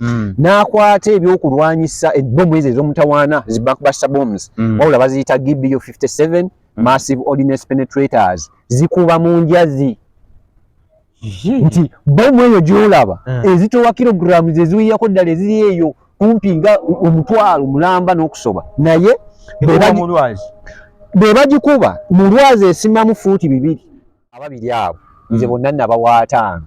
Mm. n'akwata ebyokulwanyisa ebbomu ezo ez'omutawaana zi backbuster bombs mm. wabula baziyita gbo 57 mm. massive ordinance penetrators zikuba mu njazi nti bomu eyo gyolaba mm. ezitowa kilograms eziwiyako ddala eziri eyo kumpi nga omutwalo mulamba n'okusoba naye be bagikuba mu lwazi esimamu fuuti bibiri ababiri abo nze mm. bonna nabawaataano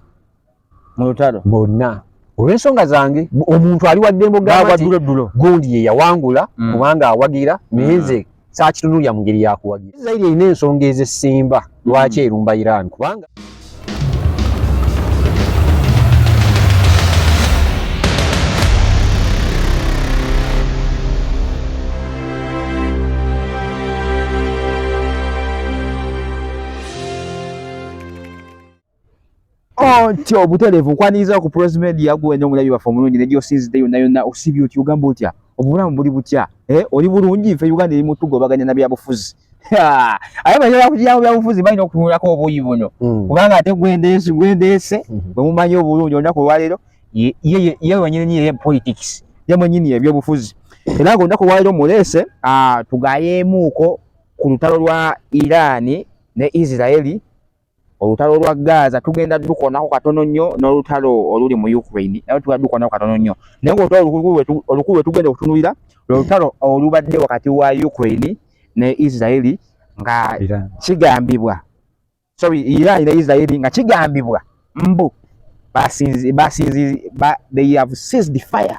mu lutalo bonna olw'ensonga zange omuntu ali waddembo gaabadulodulo gundi ye yawangula mm. kubanga awagira naye nze mm. saakitunulya mu ngeri yakuwagira isirairi erina ensonga ez'essimba lwaki mm. erumba iran kubanga Ontyo oh, obutereevu nkwaniriza ku Prozi Media gwe wena omulabi waffe omulungi ne gy'osinzidde yonna yonna osibye otya ogamba otya obulamu buli butya eh, oli bulungi nfe Uganda eri mu tugobaganya na byabufuzi aye bayala kujyawo byabufuzi balina okutunulako obuyi buno hmm. kubanga ate gwendeese gwendeese hmm. bwe mumanyi obulungi olunaku olwaleero ye wenyini ye politics ye mwenyini ebyobufuzi era nga olunaku olwaleero muleese ah, tugayeemuuko ku lutalo lwa Iran ne Israeli olutalo lwa Gaza tugenda dukonako katono nnyo n'olutalo oluli mu Ukraine naye tugenda dukonako katono nnyo naye ng'olutalo olukulu lwe tugenda okutunulira lwe lutalo olubadde wakati wa Ukraine ne Israeli nga kigambibwa sorry Iran ne Israeli nga kigambibwa mbu basinzi basinzi they have seized fire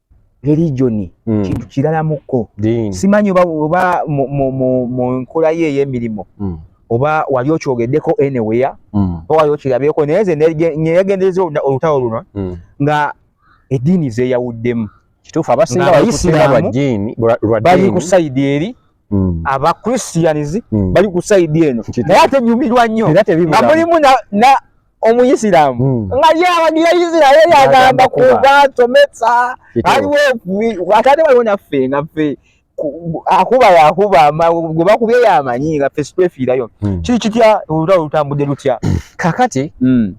religioni mm. kintu kirala mukko simanyi oba, oba mu, mu, mu, mu nkola ye ey'emirimu mm. oba wali okyogeddeko anywhere mm. oba wali okirabyeko naye nze neyagendereza olutalo luno mm. nga eddiini zeyawuddemu kituufu abasinga bayisinga lwa ddiini bali ku sayidi eri mm. aba christians mm. bali ku side eno naye ate nyumirwa nnyo nga mulimu na, na omuyisiramu mm. nga yawagira isiraeri agamba kuba tomesa aliwo ate ate waliwo naffe nga ffe akuba yakuba gwe bakubye yamanyi nga ffe sitwefiirayo mm. kiri kitya olutalo lutambudde lutya kakati mm.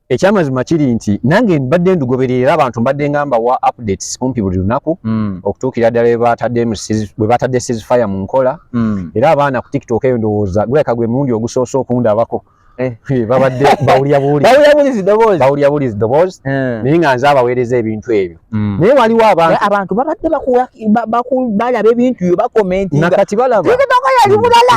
ekyamazima kiri nti nange mbadde ndugoberera era abantu mbadde nga mbawa updates kumpi buli lunaku mm. okutuukira ddala bwe batadde sis fire mu nkola mm. era abaana ku tiktok eyo ndowooza guleka gwe mulundi ogusoose okundabako eh. Eh, babadde bawulya bulizi doboozi eh. naye nga nze abaweereza ebintu ebyo mm. naye waliwo abantu babadde balaba ebintu yo bakomentinga nakati balaba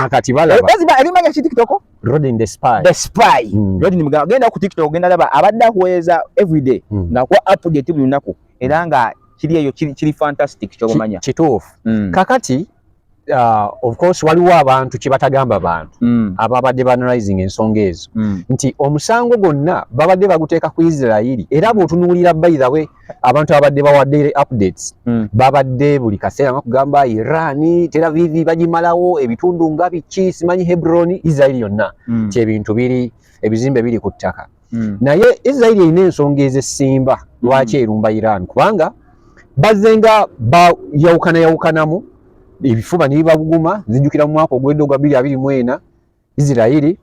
nakati balaba erimanya kitikitoko Rodin the spy. The spy. Mm. Rodin mga genda ku TikTok genda laba abadda kuweza every day mm. na kwa update buli lunaku era nga kiri eyo kiri, kiri fantastic kyobamanya. Kituufu. Mm. Kakati uh, of course waliwo abantu kyebatagamba bantu mm. ababadde banalizing ensonga ezo mm. nti omusango gonna babadde baguteeka ku Isirairi era bwotunuulira by the way abantu abadde bawa daily updates mm. babadde buli kaseera nga kugamba irani teravivi bagimalawo ebitundu nga biki simanyi hebroni israeli yonna mm. kyebintu biri ebizimbe biri ku ttaka mm. naye israeli erina ensonga ezesimba hmm. lwaki mm. erumba iran kubanga bazze nga bayawukana yawukanamu ebifuba nebibaguguma zijjukira mu mwaka ogwedde ogwa biri abiri mwena israeli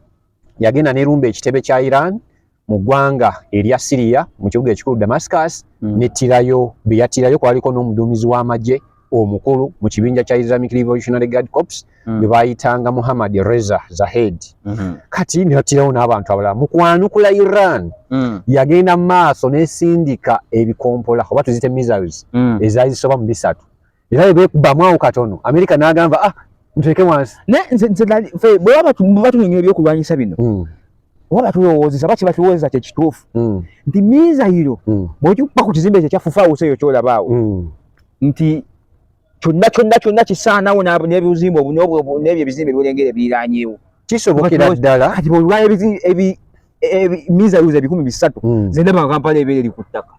yagenda nerumba ekitebe kya Iran mu ggwanga erya Syria mu kibuga ekikulu Damascus mm. netirayo beyatirayo kwaliko n'omuduumizi w'amagye omukulu mu kibinja kya Islamic Revolutionary Guard Corps mm. bwe bayitanga Muhammad Reza Zahed mm -hmm. kati netirawo n'abantu abalala mu kwanukula Iran mm. yagenda mu maaso nesindika ebikompola oba tuzite missiles mm. ezazisoba mu bisatu era bwe beekubamu awo katono amerika n'agamba ah muteeke wansi naye nze nze nali fe bwe baba tu- batunyonyola ebyokulwanyisa bino Mm, oba batulowoozesa baki batuwoozesa kye kituufu mm, nti mizayiro mm, bw'ogikuba ku kizimbe ekyo ekya fufaawusi eyo ky'olabaawo mm. nti kyonna kyonna kyonna kisaanawo n'ab- n'ebizimbe obu- n'obwo- obu- n'ebyo ebizimbe ebyolengera ebiriranyeewo kisobokera Kati- ddala kati bwolwala mizayiro ebikumi bisatu Mm. zendaba kampala ebeera eri ku ttaka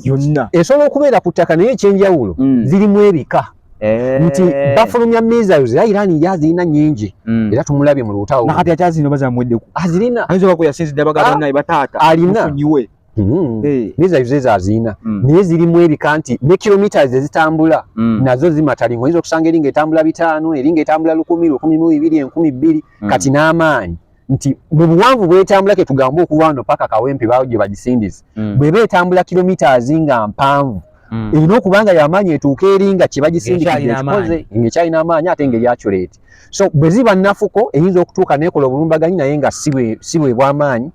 yonna esobola okubeera ku ttaka naye ekyenjawulo mm. zirimu ebika eh. nti bafulumya missiles era Iran ya zirina nyingi mm. era tumulabye mu lutawo nakati akyazino bazamweddeku azirina ah, ayinza okuba yasinzi dda bagala ah, naye bataata alina mufunyiwe mm. eh. missiles ezo azirina naye zirimu ebika nti ne kilometers ezitambula nazo zimatalingo oyinza okusanga eringa etambula bitaano eringa etambula lukumi lukumi mu bibiri enkumi bbiri kati n'amaanyi nti mu buwanvu bwetambula ke tugamba okuwano paka kawempe bawo gye bagisindiza mm. bwe beetambula kilomitas nga mpanvu mm. erina okuba nga yamaanyi etuuka eri nga kye bagisindikikoze ngaekyalina amaanyi ate nga eryaculeeti so bwe ziba nafuko eyinza okutuuka nekola obulumbaganyi naye nga si bwe bwamaanyi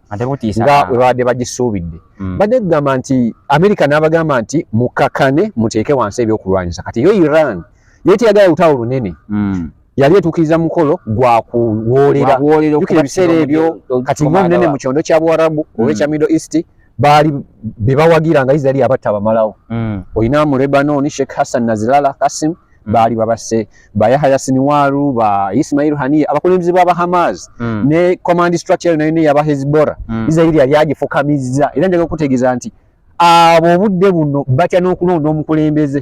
nga bwe babadde bagisuubidde mm. badde kugamba nti amerika n'abagamba nti mukakane muteeke wansi ebyokulwanyisa kati yo iran yeteyagala lutalo lunene mm. yali etuukiriza mukolo gwa kuwoolera jukira ebiseera ebyo kati nga omunene mu kyondo kya buwarabu mm. oba ekya middle east baali be bawagira nga israeli abatta bamalawo mm. olina mu lebanon sheikh hassan nazilala kasim mm. baali babase ba yahaya siniwaru ba ismail haniya abakulembeze ba bahamas ne command structure nayo ne yaba hezbora israeli yali agifukamizza era njaga okutegeeza nti abo obudde buno batya n'okulonda omukulembeze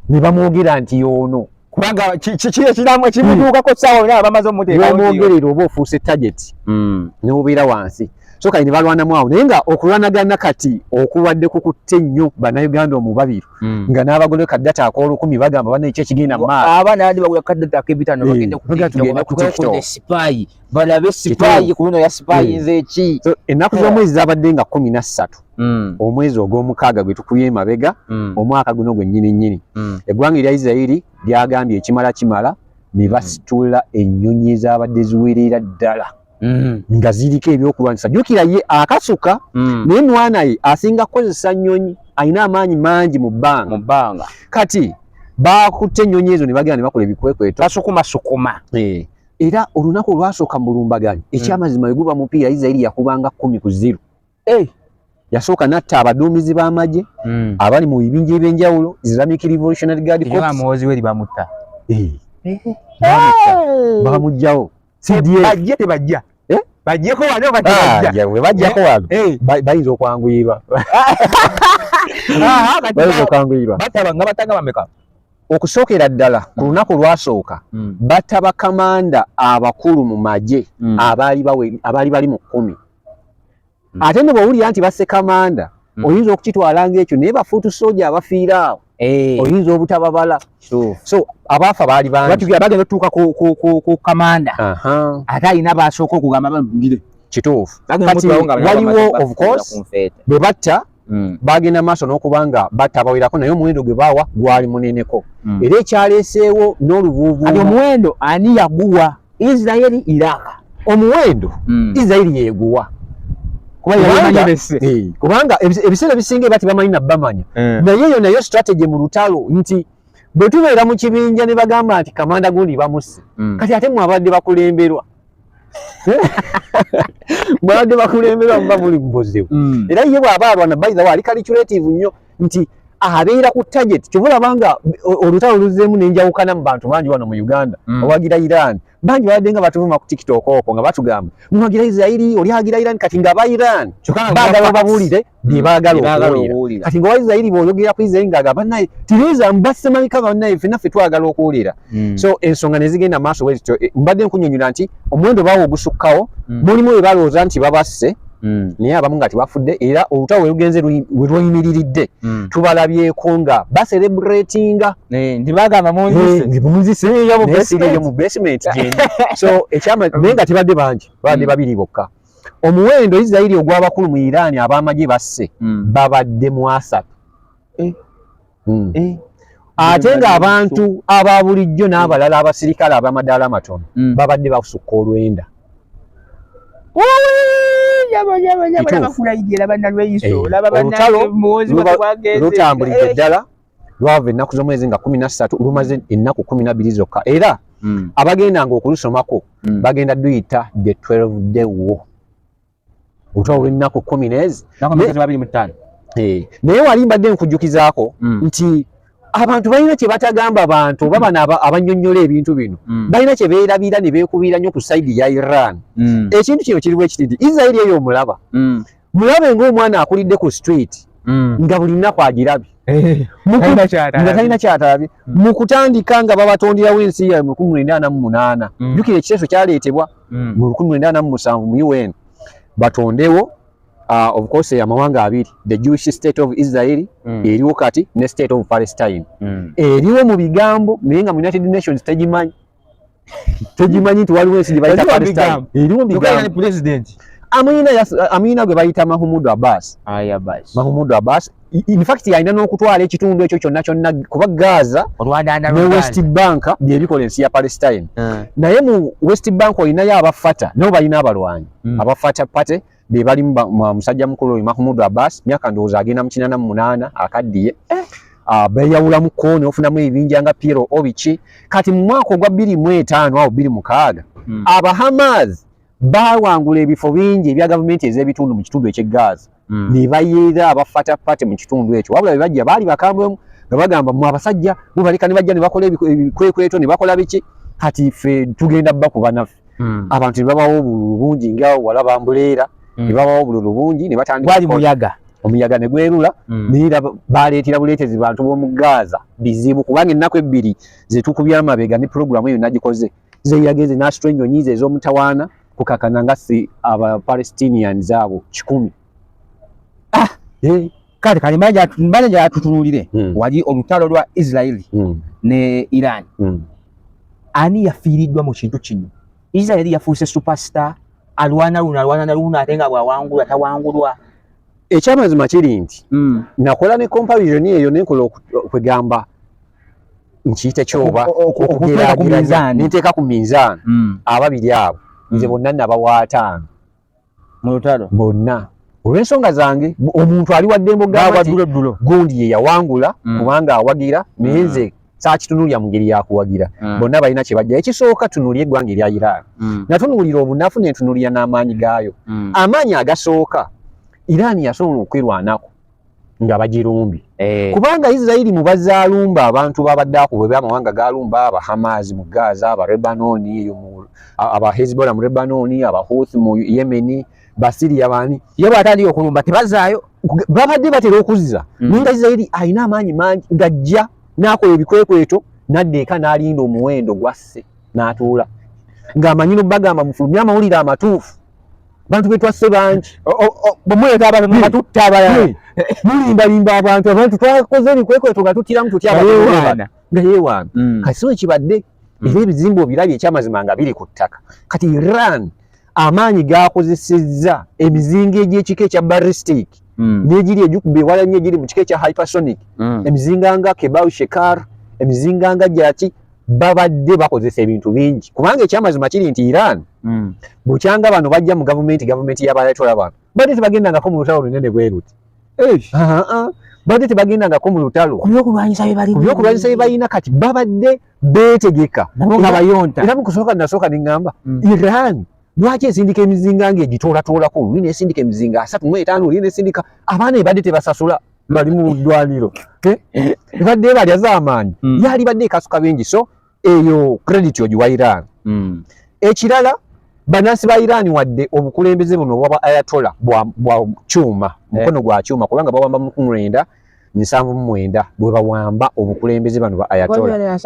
ne bamwogera nti yoono kubanga kiramu ekimutuukako hmm. saawa yona abamaze omutekaomwogerera oba ofuuse target hmm. nobeera wansi so kali nebalwanamu awo naye nga okulwanagana kati okubadde kukutte nnyo banauganda omubabiru hmm. nga n'abagole kadata akolukumi bagamba bana ekyo ekigenda maasoenaku z'omwezi zabadde nga kumi na ssatu mm. omwezi ogw'omukaaga gwe tukubye emabega mm. omwaka guno gwennyini nnyini mm. eggwanga erya isirairi lyagambye ekimala kimala ne mm. basitula mm. ennyonyi ezabadde ziwerera ddala mm. nga ziriko ebyokulwanyisa jukira ye akasuka mm. naye mwana ye asinga kukozesa nnyonyi alina amaanyi mangi mu bbanga mu bbanga kati bakutte ennyonyi ezo ne bagenda ne bakola ebikwekweto basukumasukuma eh. era olunaku olwasooka mu bulumbaganyi mm. ekyamazima mm. weguba mupiira isirairi yakubanga kumi ku ziru hey. Eh, yasooka natta abaduumizi b'amagye mm. abali mu bibinja eby'enjawulo islamic revolutionary guard corpsmuwozi we libamutta eh. eh. bamugjawo cdbajje tebajja bajjeko wano bajjako wano bayinza okwanguyirwa bayinza okwanguyirwa bataba nga batanga bameka okusookera ddala ku mm. lunaku olwasooka mm. batta bakamanda abakulu mu magye mm. abaali bali mu kkumi mm. ate ne bwowulira nti basse kamanda mm. oyinza okukitwala ngaekyo naye bafuutu soja abafiira awo eh. oyinza obutababala so abaafa baali bagenda otutuuka ku kamanda ate alina basooka okugamba bamugire kituufu waliwo ofcourse bwe batta mm. bagenda maaso n'okuba nga batta abawerako naye omuwendo gwe baawa gwali muneneko mm. era ekyaleeseewo n'oluvuuvu omuwendo ani yaguwa isiraeri iraka omuwendo mm. isiraeri yeguwa kubanga eh, ebiseera ebisinga eba tebamanyi nabamanya eh. naye eyo nayo strategy mu lutalo nti bwe tubeera mu kibinja ne bagamba nti kamanda gundi bamusse mm. kati ate mwabadde bakulemberwa mwabadde bakulembera muba muli mubuzibu mm. era ye bwaba alwana baitha waali kaliculative nnyo nti abeera ku target kyova olabanga olutalo luzeemu nenjawukana mu bantu bangi wano mu uganda mm. owagira iran bangi babadde nga batuvuma ku tiktok oko nga batugamba muwagira israeli oli agira iran kati nga aba iran bagala obabuulire byebaagala okuwulira kati nga waisirairi bwoyogera ku isirairi nga agamba naye tiriza mbasemabika banaye fena ffe twagala okuwulira hmm. so ensonga nezigenda maaso wezityo eh, mbadde nkunyonyola nti omuwendo baawo ogusukkawo hmm. mulimu we balowooza nti babasse hmm. naye abamu nga tibafudde era olutawo werugenze werweyimiriridde tubalabyeko nga baserebratinga eh, ntibagamba munziseyeyomubasement eh, so ekyama naye nga tibadde bangi babadde babiri bokka omuwendo isirairi ogw'abakulu mu iran ab'amagye basse hmm. babadde mu asatu eh. hmm. eh. ate ng'abantu aba bulijjo n'abalala abasirikale ab'amadaala amatono hmm. babadde basukka olwenda lutambulidde ddala lwava ennaku z'omwezi nga kumi na ssatu lumaze ennaku kumi na bbiri zokka era mm. abagendanga okulusomako mm. bagenda duyita the 12 day wo otwa olwennaku kumi neezi eh, naye wali mbadde nkujjukizaako mm. nti abantu balina kye batagamba bantu oba bano abanyonyola ebintu bino mm. balina kye beerabira ne beekubiira nnyo ku saidi ya iran mm. ekintu kino kiriwo ekiti nti israeli eyo omulaba mm. mulabe ng'omwana akulidde ku street mm. nga buli nnaku agirabye eh, nga talina kyatalabye mm. mu kutandika nga babatonderawo ensi yawe mu lukumi lwenda ana mu munaana mm. jukira ekiteeso kyaleetebwa mu lukumi lwenda ana mu musanvu mu un batondewo ah, obukose amawanga abiri the jewish state of israeli eriwo kati ne state of palestine eriwo mu bigambo naye nga mu united nations tegimanyi togimanyi nti waliwo ensi gyebayita palestine eriwo bigambo president amuyina amuyina gwe bayita mahumudu abbas aya bas mahumudu abbas in fact yalina n'okutwala ekitundu ekyo kyonna kyonna kuba gaza ne west bank byebikola ensi ya palestine ah. naye mu west bank olinayo abafata nabo balina abalwanyi hmm. abafata party be bali musajja mukulu oyo Mahmoud Abbas myaka ndowooza agenda mu kinana mu munaana akaddiye eh. ah, beeyawulamu ko ne ofunamu ebibinja nga Piero Obichi kati mu mwaka ogwa bbiri mu etaano awo bbiri mukaaga hmm. Abahamas baawangula ebifo bingi ebya gavumenti ez'ebitundu mu kitundu eky'e Gaza hmm. ne bayiira abafata pate mu kitundu ekyo wabula be bajja baali bakambwe nga bagamba mu abasajja mubaleka ne bajja ne bakola ebikwekweto ne bakola biki kati ffe tugenda bakuba naffe mm. abantu nebabawo obululu bungi nga wala bambuleera mm. nebabawo obululu bungi nebatandikgwali muyaga omuyaga ne gwerula mm. naye era baleetera buleetezi bantu b'omu gaaza bizibu kubanga ennaku ebbiri zetukubye amabega ne pulogulaamu eyo nagikoze zeyageze n'asitula ennyonyi ze ez'omutawaana kukakana nga si abapalestinians abo kikumi ah eh kale kale mbaja mbaja atutunulire mm. wali olutalo lwa Israeli mm. ne Iran mm. ani yafiridwa mu kintu kino Israeli yafuuse superstar alwana luna alwana na luna atenga bwa wangu atawangulwa ekyamazima kiri nti mm. nakola ne comparison eyo nenkola okwegamba oku, nkiyite kyoba okugeraageranya ninteeka ku minzaani mm. ababiri abo nze mm. bonna nabawa ataano mu lutalo bonna olw'ensonga zange omuntu ali waddembe ogambaddulo gundi ye yawangula mm. kubanga awagira naye mm. nze sakitunulira mu ngeri yakuwagira mm. bonna balina kye bajja ekisooka tunulira eggwanga erya iran natunuulira obunafu nentunulira n'amaanyi gaayo amaanyi agasooka iran yasobola okwerwanako nga bagirumbye eh. kubanga isirairi mu bazaalumba abantu babadde akuba eby amawanga galumba abahamaazi mu gaza abarebanoni eyo abahezbola mu rebanoni abahuth mu yemeni basiriya bani ye bwatandika okulumba tebazaayo babadde batera okuzza mm. naye nga isirairi alina amaanyi mangi gajja n'akola ebikwekweto nadda eka n'alinda omuwendo gwasse n'atuula ng'amanyi no bagamba mufulumye amawulire amatuufu bantu betwasse bangi bwemuleeta abantu nabatutta abalala mulimbalimba abantu abantu twakoze ebikwekweto nga tutiramu tutya abaana nga yewaana mm. kati sino kibadde mm. era ebizimba obirabye ekyamazima nga biri ku ttaka kati iran amaanyi gakozesezza emizinga egyekika ekya baristic mm. negiri egikuba ewala nyo egiri mu kika ekya hypersonic emizinga nga kebau shekar emizinga nga gyaki babadde bakozesa ebintu bingi kubanga ekyamazima kiri nti iran mm. bukyanga bano bajja mu gavumenti gavumenti yabaletwala bano badde tebagendangako mu lutalo lunene bweruti badde tebagendangako mu lutalo kubyokulwanyisa bye balina kati babadde beetegeka nga bayonta era mukusooka nasooka ne ŋŋamba mm. iran lwaki esindika emizinga nga egitoolatoolako oli nesindika emizinga asatu mu etaano oli nesindika abaana ebadde tebasasula bali mu ddwaniro eh? ebadde ebalya zamaanyi mm. yalibadde ekasuka bingi so eyo credit ogiwa iran mm. ekirala banansi ba iran wadde obukulembeze buno obwaba ayatola bwa kyuma eh. mukono gwa kyuma kubanga bawamba mukumwenda nsanvu mumwenda bwebawamba obukulembeze bano ba ayatola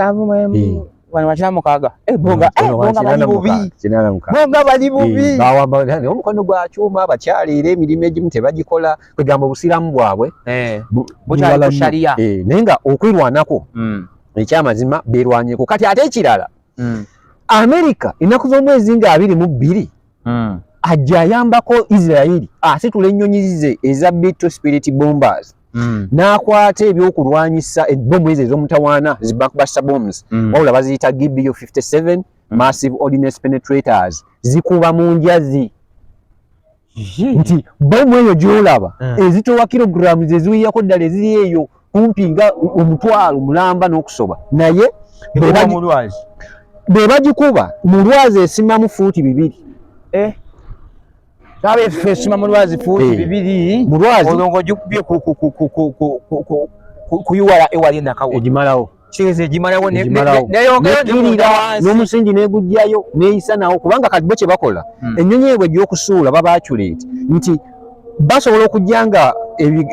Wano wachina mukaga. Eh bonga, eh bonga bali bubi. Kinana mukaga. Bonga bali bubi. Eh, bawa bonga ne omukono gwa chuma abakyali ere mirime gimu tebagikola kugamba busiramu bwabwe. Eh. Bujala sharia. Eh nenga okwirwanako. Mm. Ekya mazima berwanyeko. Kati ate ekirala. Mm. America inakuva mwezi nga abiri mu biri. mm. ajja ayambako isirairi asitula ennyonyi ze eza bitto spirit bombers mm. n'akwata ebyokulwanyisa ebbomu ezo ez'omutawaana zibakbasta bombs mm. wabula baziyita gbo 57 mm. massive ordinance penetrators zikuba mu njazi nti bomu eyo gyolaba eh. ezitowa kilograms eziwiyako ddala eziri eyo kumpi nga omutwalo mulamba n'okusoba naye be bagikuba mu lwazi esimamu fuuti bibiri eh? kyabe ffe esima mu lwazi fuuti eh. bibiri mu lwazi olwo ng'ogikubye kuyiwala ewali enakawo egimalawo kiyinza egimalawo neyongerira n'omusingi negujjayo neyisa nawo kubanga kati bo kyebakola hmm. ennyonyi ebwe egyokusuula babaculate nti basobola okujja nga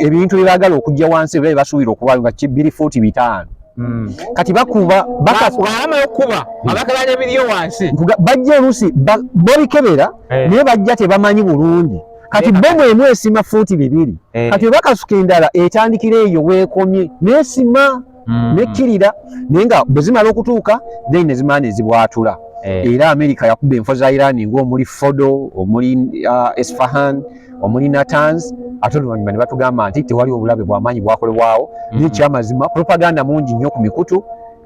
ebintu byebagala okujja wansi ebira byebasuubira okubayo nga biri fuuti bitaano hmm. kati bakuba bakaamaokuba hmm. abakala nebiriyo wansi bajja oluusi babikebera eh. naye bajja tebamanyi bulungi kati bomu emu esima fuuti bibiri eh. kati webakasuka endala etandikira eyo weekomye nesima mm. nekkirira naye nga bwe zimala okutuuka then ne zimala ne zibwatula eh. era amerika yakuba enfo za irani ng'omuli fodo omuli uh, esfahan omuli natans ate oluvannyuma ne batugamba nti tewali obulabe bwamaanyi bwakolebwawo mm. naye kyamazima propaganda mungi nnyo ku mikutu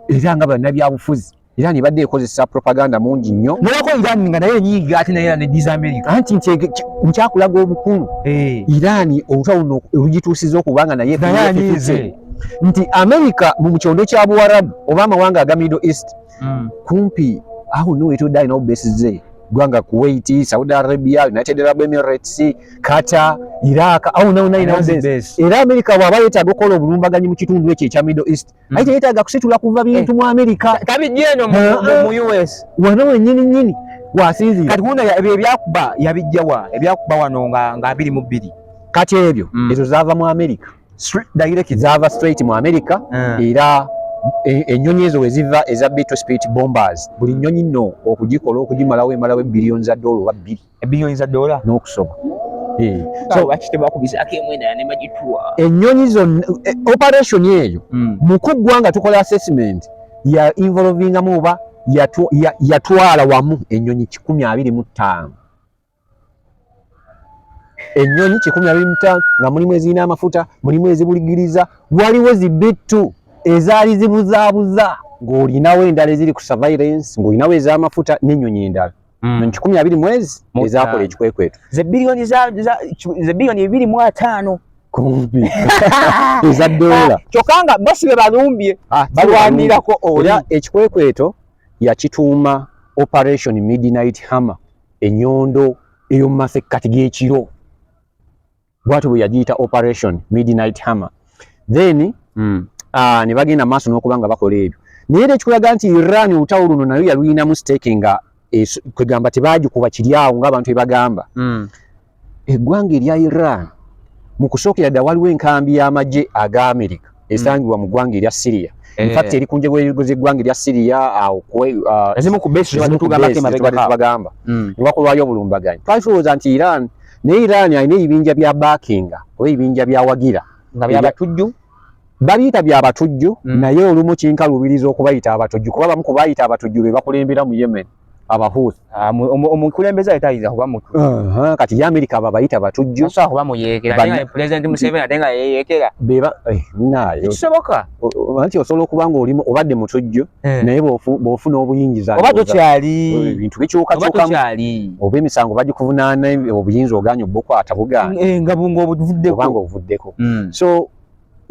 era nga bannabyabufuzi Iran ibadde ekozesa propaganda mungi nnyo nolako Iran nga naye enyiiga ate naye neddiza Amerika anti nti nkyakulaga obukulu eh. Iran olutwa luno olugituusiza okuba nga naye nayeanyiize nti Amerika mu kyondo kya Buwarabu oba amawanga aga Middle East mm. kumpi awo no etodde alina obubesize gwanga Kuwait, Saudi Arabia, United Arab Emirates, Qatar, Iraq awo nawo nayina era Amerika bwaba yetaaga okukola obulumbaganyi mu kitundu ekyo ekya Middle East mm. naye teyetaaga kusitula kuva bintu eh. mu amerika tabijja eno mu eh, eh. us wano wenyini nyini wasinzira kati wuno ebyo ebyakuba yabijja wa ebyakuba wano nga nga abiri mu bbiri kati ebyo mm. ezo zaava mu amerika zaava straight mu amerika era E, ennyonyi ezo weziva eza beetle spirit bombers buli nnyonyi nno okugikola okugimalawo emalawo ebbiliyoni za doola oba bbiri ebinyonyi za dola n'okusoba eh. enyonyi zonna eh, operation eyo hmm. mukuggwa nga tukola assessment ya involvingamu oba yatwala wamu enyonyi kikumi abiri mu ttaano enyonyi kikumi abiri mu ttaano nga mulimu ezirina amafuta mulimu ezibuligiriza waliwo zibittu ezaali zibuzaabuza ng'olinawo endala eziri ku surveillance ng'olinawo ez'amafuta n'enyonyi endala mm. kikumi abiri mwezi ezakola ekikwekweto ze biliyoni za, za, ze biliyoni ebiri mu ataano kumpi eza dola kyokka nga bosi be balumbye ah, balwanirako oli ekikwekweto yakituuma operation midnight hammer enyondo eyomumasekkati g'ekiro bwatyo bwe yagiyita operation midnight hammer then mm. uh, ne bagenda maaso n'okuba nga bakola ebyo naye era ekikulaga nti iran olutawo luno nayo yaluyinamu stake nga kwegamba tebagikuba kiri awo ngaabantu ebagamba mm. eggwanga erya iran mu kusookera dda waliwo enkambi y'amagye aga amerika esangibwa mu ggwanga erya Syria eh. in fact eri ku njego z'eggwanga erya Syria awo uh, ezimu ku base tubagamba hmm. ne bakolwayo obulumbaganyi twali tulowooza nti Iran naye Iran alina ebibinja bya backing oba ebibinja byawagira nga byabatujju babiyita bya batujju hmm. naye olumu kinkaluubiriza okubayita abatujju kuba bamu ku bayita abatujju be bakulembera mu Yemen abahuth ah, omukulembeze ayita ayinza kuba mutu kati ye amerika abo abayita batujju asobola kuba muyeekera naye nga pulezidenti museveni ate nga yeyeekera eh, naye kisoboka anti osobola okuba nga olimu obadde mutujju eh. naye bw'ofuna obuyingiza oba tokyali eh, ebintu bikyukakyukamu oba emisango bagikuvunaana obuyinza oganya obukwata buganda nga obuvuddeko hmm. so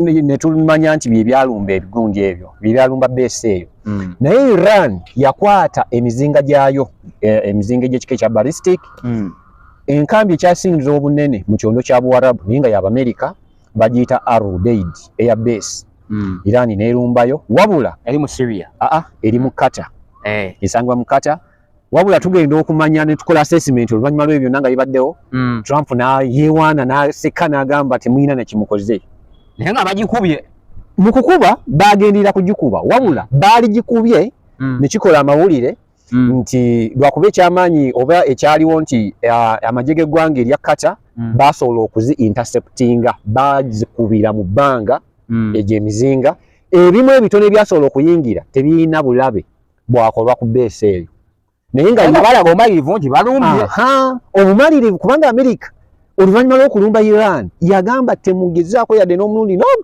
ne tumanya nti bye byalumba ebigunja ebyo bye byalumba beesi eyo mm. naye iran yakwata emizinga gyayo e, emizinga egyekika ekya ballistic mm. enkambi ekyasingiza obunene mu kyondo kya buwarabu naye nga yabamerica bagiyita arudeid eya beesi mm. iran nerumbayo wabula eri mu syria aa eri mu kata eh. esangibwa mu kata wabula tugenda okumanya ne tukola assessment oluvannyuma lw'ebyo byonna nga bibaddewo mm. trump nayewaana naseka n'agamba temulina nekimukoze naye nga bagikubye mu kukuba baagenderera kugikuba wabula mm. baaligikubye mm. ne kikola amawulire mm. nti lwakuba ekyamaanyi oba ekyaliwo nti uh, amagye g'eggwanga erya kata mm. baasobola okuzi interceptinga baazikubira mu bbanga mm. egyo emizinga ebimu ebitono ebyasobola okuyingira tebirina bulabe bwakolwa ku beesi eyo naye nga balaba omalirivu nti balumbye obumalirivu kubanga amerika oluvannyuma lw'okulumba iran yagamba temugezaako yadde n'omulundi nomu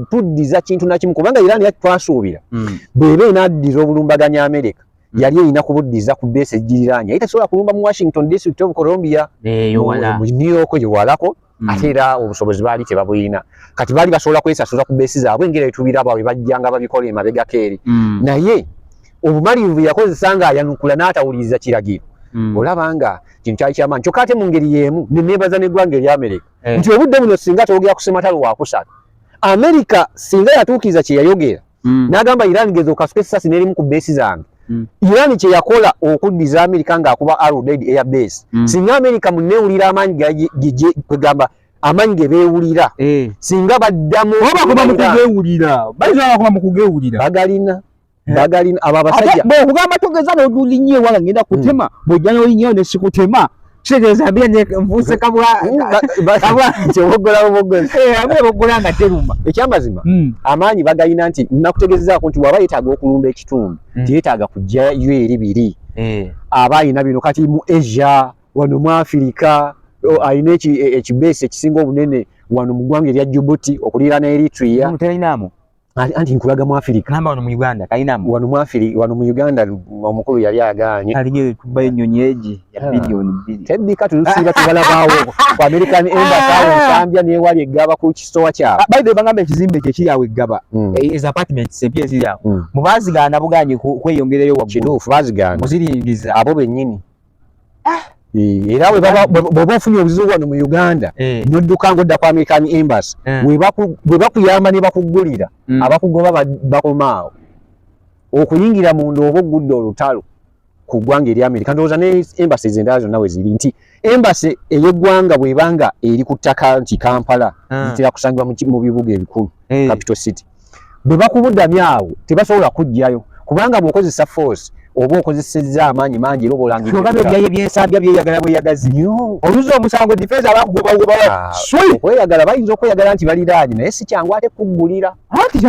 kuddiza kintu nakimu kubanga iran yaki twasuubira hmm. bweba enaddiza obulumbaganya amerika hmm. yali erina kubuddiza ku beesi ejjiriraanya ye tasobola kulumba mu washington district of colombia eh, mu new york gyewalako Mm. ate era obusobozi baali tebabulina kati baali basobola kwesasula ku beesi zaabwe engeri etubiraba we bajjanga babikola emabegako eri mm. naye obumalirivu yakozesa ng'ayanukula n'atawuliriza kiragiro mm. olaba nga kintu kyali kyamaanyi kyokka ate mu ngeri y'emu neneebaza n'eggwanga erya amerika eh. nti obudde buno singa twogera ku sematalo wakusatu amerika singa yatuukiriza kye yayogera mm. nagamba Iran gezo okasuka esasi neri muku base zange mm. Iran kye yakola okudiza America nga akuba arrow dead air base mm. singa America munewulira amanyi gaje gije kwegamba amanyi ge bewulira eh. singa baddamu oba kuba mukugewulira bayizo abakuba mukugewulira bagalina Eh? bagalina abo abasajja bwekugamba togeza noduli nyo ewala ngenda hmm. kutema bwojja nolinyeyo nesikutema kitegeeza mbira nvuuse kabwa bogola nga teruma ekyamazima hmm. amaanyi bagalina nti nakutegezezaako nti waba yetaaga okulumba ekitundu hmm. tiyetaaga kujjayo eri biri eh. aba alina bino kati mu asia wano mu afirika alina e, ekibeesi ekisinga obunene wano mu ggwanga erya jubuti okuliira ne eritria Ali anti nkulaga mu Afrika. Namba wano mu Uganda kalina mu. Wano mu Afrika wano mu Uganda omukulu yali aganye. Alige kuba ennyonyi eji ya ah. bilioni bbiri. Tebbi kati lusiba tubala bawo ku American Embassy awo Zambia ne wali egaba ku kistowa kya. Ah, by the bangamba ekizimbe kye kiri awo egaba. Mm. Eh, is apartment se pye ziri awo. Mm. Mu bazigana buganye kweyongerayo waggulu. Kituufu bazigana. Muziringiza. Abo bennyini. ah. eh, era bweba ofunye obuzibu wano mu uganda eh. nodduka nga odda ku american embassy eh. bwe bakuyamba ne bakugulira mm. abakugoba bakomaawo okuyingira munda oba ogudde olutalo ku ggwanga eri amerika ndowooza ne embassy zendala zonna we ziri nti embassy ey'eggwanga bwebanga eri ku ttaka nti kampala ah. zitera kusangibwa mu bibuga ebikulu capital city bwe bakubudamya awo tebasobola kujjayo kubanga bw'okozesa force oba okozesezza amaanyi mangi era obaolangaebyaye byensambya byeyagala bweyagazi oluza omusango difensi abakugobaokweyagala ah, bayinza okweyagala nti baliraanye naye si kyangu ate kuggulira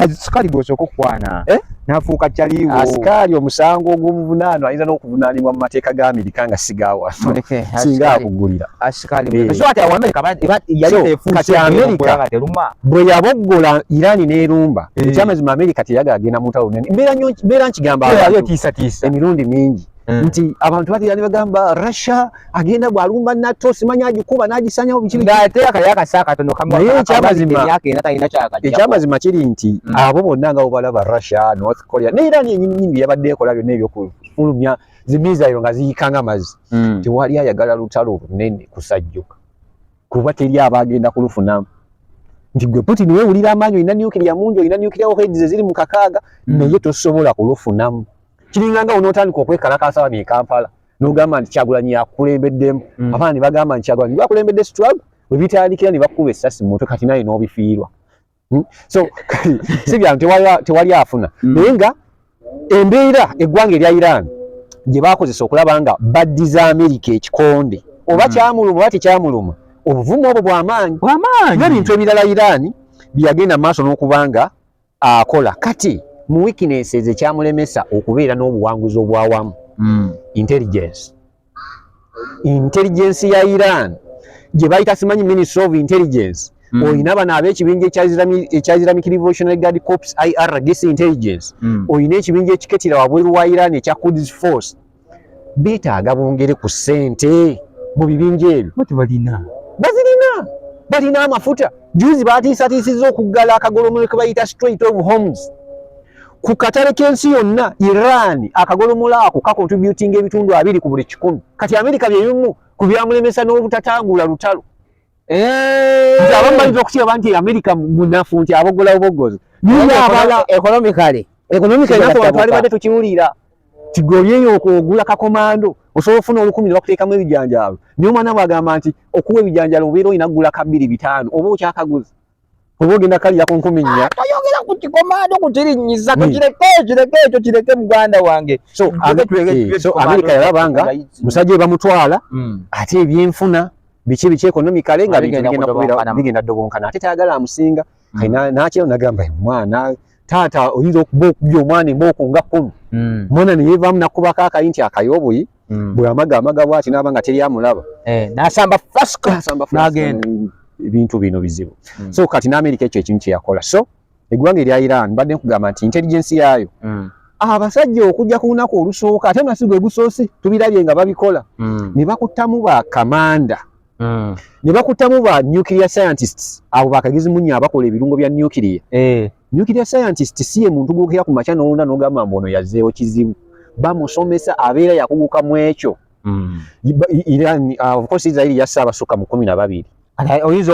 asikali gwosooka okukwana eh? nafuuka kyaliwo asikaali omusango ogw'omuvunaano ayinza n'okuvunaanibwa mu mateeka ga amerika nga sigaawa singa akuggulira bwe yaboggola irani n'erumba eh. ekyamazima amerika teyagala agenda mu ntalo nene mbeera nkigamba emirundi mingi eh. nti abantu batera ne bagamba russia agenda bwalumba nato simanya agikuba n'agisanyawo bikinekyamazima kiri nti mm. abo bonna nga bobalaba russia north korea ne irani yenyininyini byeyabadde ekola byonna ebyokufulumya zimizairo nga ziyikanga mazi mm. tewali ayagala lutalo lunene kusajjuka kuba teri abagenda kulufuna nti gwe putin wewulira amaanyi olina nukiria mungi olina nukiria ohedize ziri mu kakaaga mm. naye tosobola kulufunamu kiringanga onootandika okwekalakaasa wano ekampala nogamba nti kyagulanyi yakulembeddemu mm. abaana ne bagamba nti kyagulanyi bakulembedde situlago webitandikira ne bakuba essasi mumutwe kati naye n'obifiirwa Hmm? so si byantu tewali afuna hmm. naye nga embeera eggwanga erya iran gye bakozesa okulaba nga baddiza amerika ekikonde oba hmm. kyamuluma oba tekyamuluma obuvumu obwo bwamaanyi nebintu ebirala iran byeyagenda mu maaso n'okuba nga akola kati mu weaknesses ekyamulemesa okubeera n'obuwanguzi obwawamu intelligence intelligence ya iran gye bayita simanyi ministry of intelligence mm. olina bano abekibinja ekya islamic revolutionary guard corps irdc intelligence mm. olina ekibinja ekiketira wabweru wa iran ekya quds force betaaga bongere ku sente mu bibinja ebyo bazirina balina amafuta juzi batiisatiisiza okuggala akagolomolo ke bayita straight of homes ku katale k'ensi yonna iran akagolomola ako kakontributinga ebitundu abiri ku buli kikumi kati amerika byebimu ku byamulemesa n'obutatangula lutalo eh. nti abamu bayinza okukiraba nti amerika munafu nti abogola bubogozi naye abala ekonomikale ekonomikale nako bantu balibadde tukiwulira tigolyeyo okugula kakomando osobola ofuna olukumi ne bakuteekamu ebijanjaalo naye omwana bwagamba nti okuwa ebijanjaalo obeera olina kugula kabbiri bitaano oba okyakaguzi oba ogenda kaliya ku nkumi nnya ah, toyogera ku kikomando kukirinyiza hmm. tukireke kireke ekyo kireke muganda wange so eh, amerika yalaba nga musajja we bamutwala hmm. ate ebyenfuna biki biki ekonomikale nga bigenda dobonkana ate tayagala amusinga hmm. nakino nagamba mwana taata oyinza okuba okubya omwana embooko nga kkumu hmm. mwana ne yeevaamu nakubako akayi nti akaye obuyi hmm. bwamaga amaga bwati naaba nga teri amulaba eh, nasamba fasnagenda ebintu bino bizibu hmm. so kati naamerika ekyo ekimu kyeyakola so eggwanga erya iran mbadde nkugamba nti intelligensi yaayo abasajja okujja ku lunaku olusooka ate nasi gwe gusoose tubirabye nga babikola ne bakuttamu bakamanda mm. ne bakutamu ba nuclear scientists abo bakagizi munya abakola ebirungo bya nuclear eh. nuclear scientist si ye muntu gwokera ku makya nowunda nogamba mbu ono yazeewo kizibu bamusomesa abeera yakuguka mu ekyo mm. iran uh, of course israeli yassa abasukka mu kumi na babiri oyinza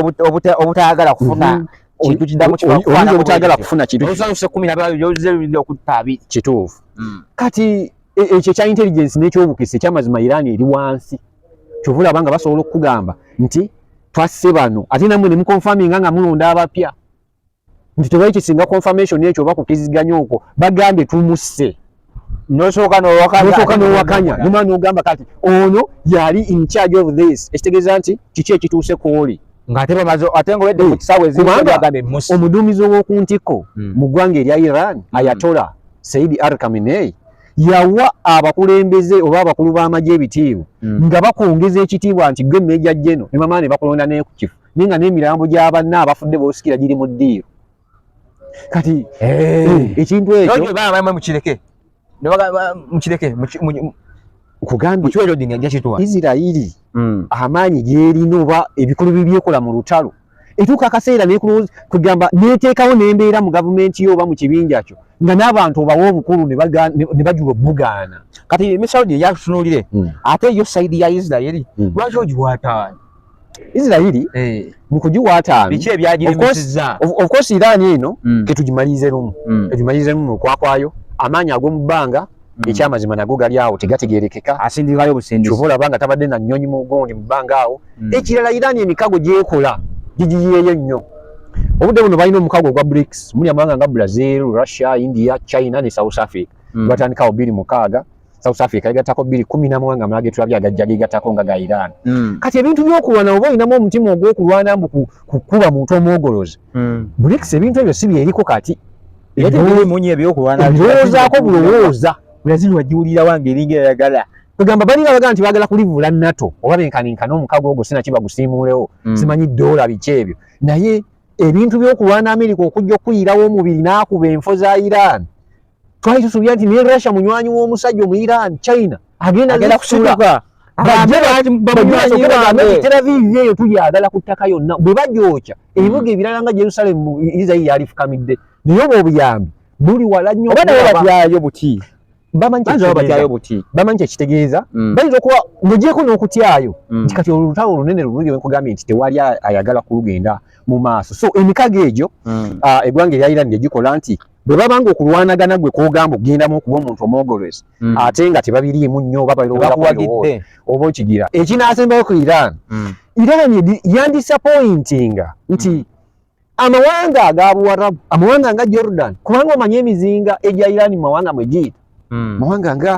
obutayagala kufuna mm -hmm. kintu kidamu kibakwana obutagala kufuna kintu osanuse kumi na babiri oze bibiri okutta abiri kituufu mm. kati e, ekyo ekya intelligence n'ekyobukisa ekyamazima irani eri wansi kyova olaba nga basobola okukugamba nti twasse bano ate namwe ne mukonfaminga nga mulonda abapya nti tewali kisinga confirmation ekyo oba kukiziganya okwo bagambye tumusse nosooka nowakanya noma nogamba kati ono yali in charge of this ekitegeeza nti kiki ekituuse kwoli omuduumizi ow'oku ntikko hmm. mu ggwanga erya iran hmm. ayatola saidi arkaminei yawa abakulembeze oba abakulu b'amagye ebitiibwa mm. nga bakwongeza ekitiibwa nti gwe meja jeno ne mama ne bakulonda naye ku kifo naye nga n'emirambo gy'abanna abafudde boosikira giri mu ddiiro kati eh. Eh, ekintu ekyomukireke mukireke kugambye isirairi mm. amaanyi gyerina oba ebikulu bibyekola mu lutalo etuuka akaseera nekulowooza kwegamba neteekawo nembeera mu gavumenti yo oba mu kibinja kyo nga n'abantu obawa obukulu ne bajula obugaana kati emisawudi eyatunuulire hmm. ate yo sayidi ya isirairi hmm. lwaki ogiwataano isirairi eh. mu kugiwataano biki ebyagirimusiza ofcourse iraani eno hmm. ketugimalirize lumu ketugimalirize lumu okwakwayo amaanyi ag'omu bbanga Mm. ekyamazima nago gali awo tegategerekeka asindikayo busindisi kyova olaba nga tabadde na nnyonyi mu gundi mu bbanga awo mm. ekirala irani emikago gyekola gigiyeeyo nnyo obudde buno balina omukago ogwa brics muli amawanga nga brazil russia india china ne south africa mm. batandikawo biri mukaaga south africa yegattako biri kumi namawanga amala getulabye agajja gegattako nga ga iran kati ebintu byokulwana oba olinamu omutima ogwokulwana mbu kukuba muntu omwogolozi brics ebintu ebyo si byeriko kati ebirowoozaako bulowooza brazil wagiwulira wange eringa eyagala kwegamba balinga bagamba nti bagala kulivula nato oba benkaninkana omukago ogwo sinaki bagusiimuulewo mm. simanyi doola biki ebyo naye ebintu byokulwana amerika okujja okuyirawo omubiri n'akuba enfo za iran twali tusubira nti ne russia munywanyi w'omusajja omu iran china agenda agenda kusuka bajjabamubitera viivi eyo tulyagala ku ttaka yonna bwe bagyokya ebibuga ebirala nga jerusalemu isirairi yaalifukamidde naye obwo obuyambi buli wala nnyo oba naye batyayo buti bamanyi kyekitegeeza mm. bayinza okuba mugyeko n'okutyayo mm. nti kati olutalo olunene lulungi wenkugambye nti tewali ayagala kulugenda mu maaso so emikago egyo mm. ah, eggwanga erya iran gyegikola nti bwe babanga okulwanagana gwe kogamba okugendamu okuba omuntu omwogolwezi mm. ate nga tebabiriimu nnyo oba balowoozakuwagidde oba okigira ekinaasembayo ku iran mm. iran yandisapointinga nti mm. amawanga aga buwarabu amawanga nga jordan kubanga omanyi emizinga egya iran mu mawanga mwe giyita mm. mawanga nga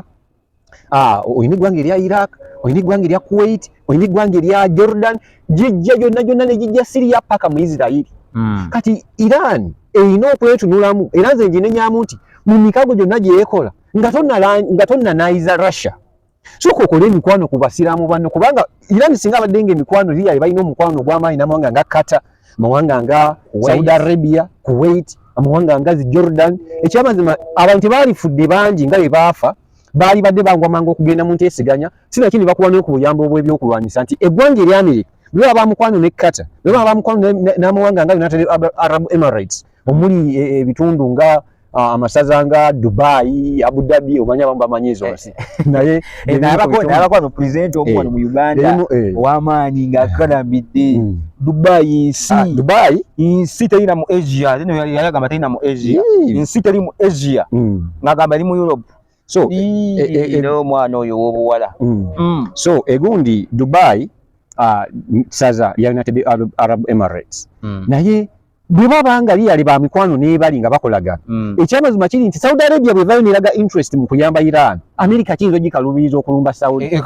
ah, olina eggwanga erya iraq olina eggwanga erya kuwait olina eggwanga erya jordan gijja gyonna gyonna ne gijja siriya paka mu isirairi hmm. kati iran erina okwetunulamu era nze nginenyamu nti mu mikago gyonna gyeyekola nga tonnanayiza russia soka okole emikwano ku basiraamu banno kubanga iran singa abadde nga emikwano riya ebalina omukwano ogw'amaanyi namawanga nga kata amawanga nga saudi arabia kuwait amawanga nga zi jordan ekyamazima abantu tebaalifudde bangi nga bwe baafa baali badde bangwamanga okugenda mu nteeseganya sinakindi bakuba noku buyambo obw'ebyokulwanyisa nti eggwanga eryamerika bwe baba bamukwano ne qatar bwe baba bamukwano n'amawanga nga united arab emirates omuli e, e, ebitundu nga amasaza nga dubai abu dhabi omanya abamu bamanyi ezo nsi naye abakwano president omuwano mu uganda owamaanyi ngaakanamidde mm. dubai nsi ah, dubai nsi terina mu asia yayagamba terina mu asia nsi teri mu asia mm. ngagamba eri mu europe so e, e, e, omwana oyo wobuwala mm. mm. so egundi dubai uh, saza yalina tebe arab emirates mm. naye bwe baba nga liyali ba mikwano n'ebali nga bakolagana mm. ekyamazima kiri nti saudi arabia bwevayo neraga interest mu kuyamba iran amerika kiyinza ogikaluubiriza okulumba saudi e,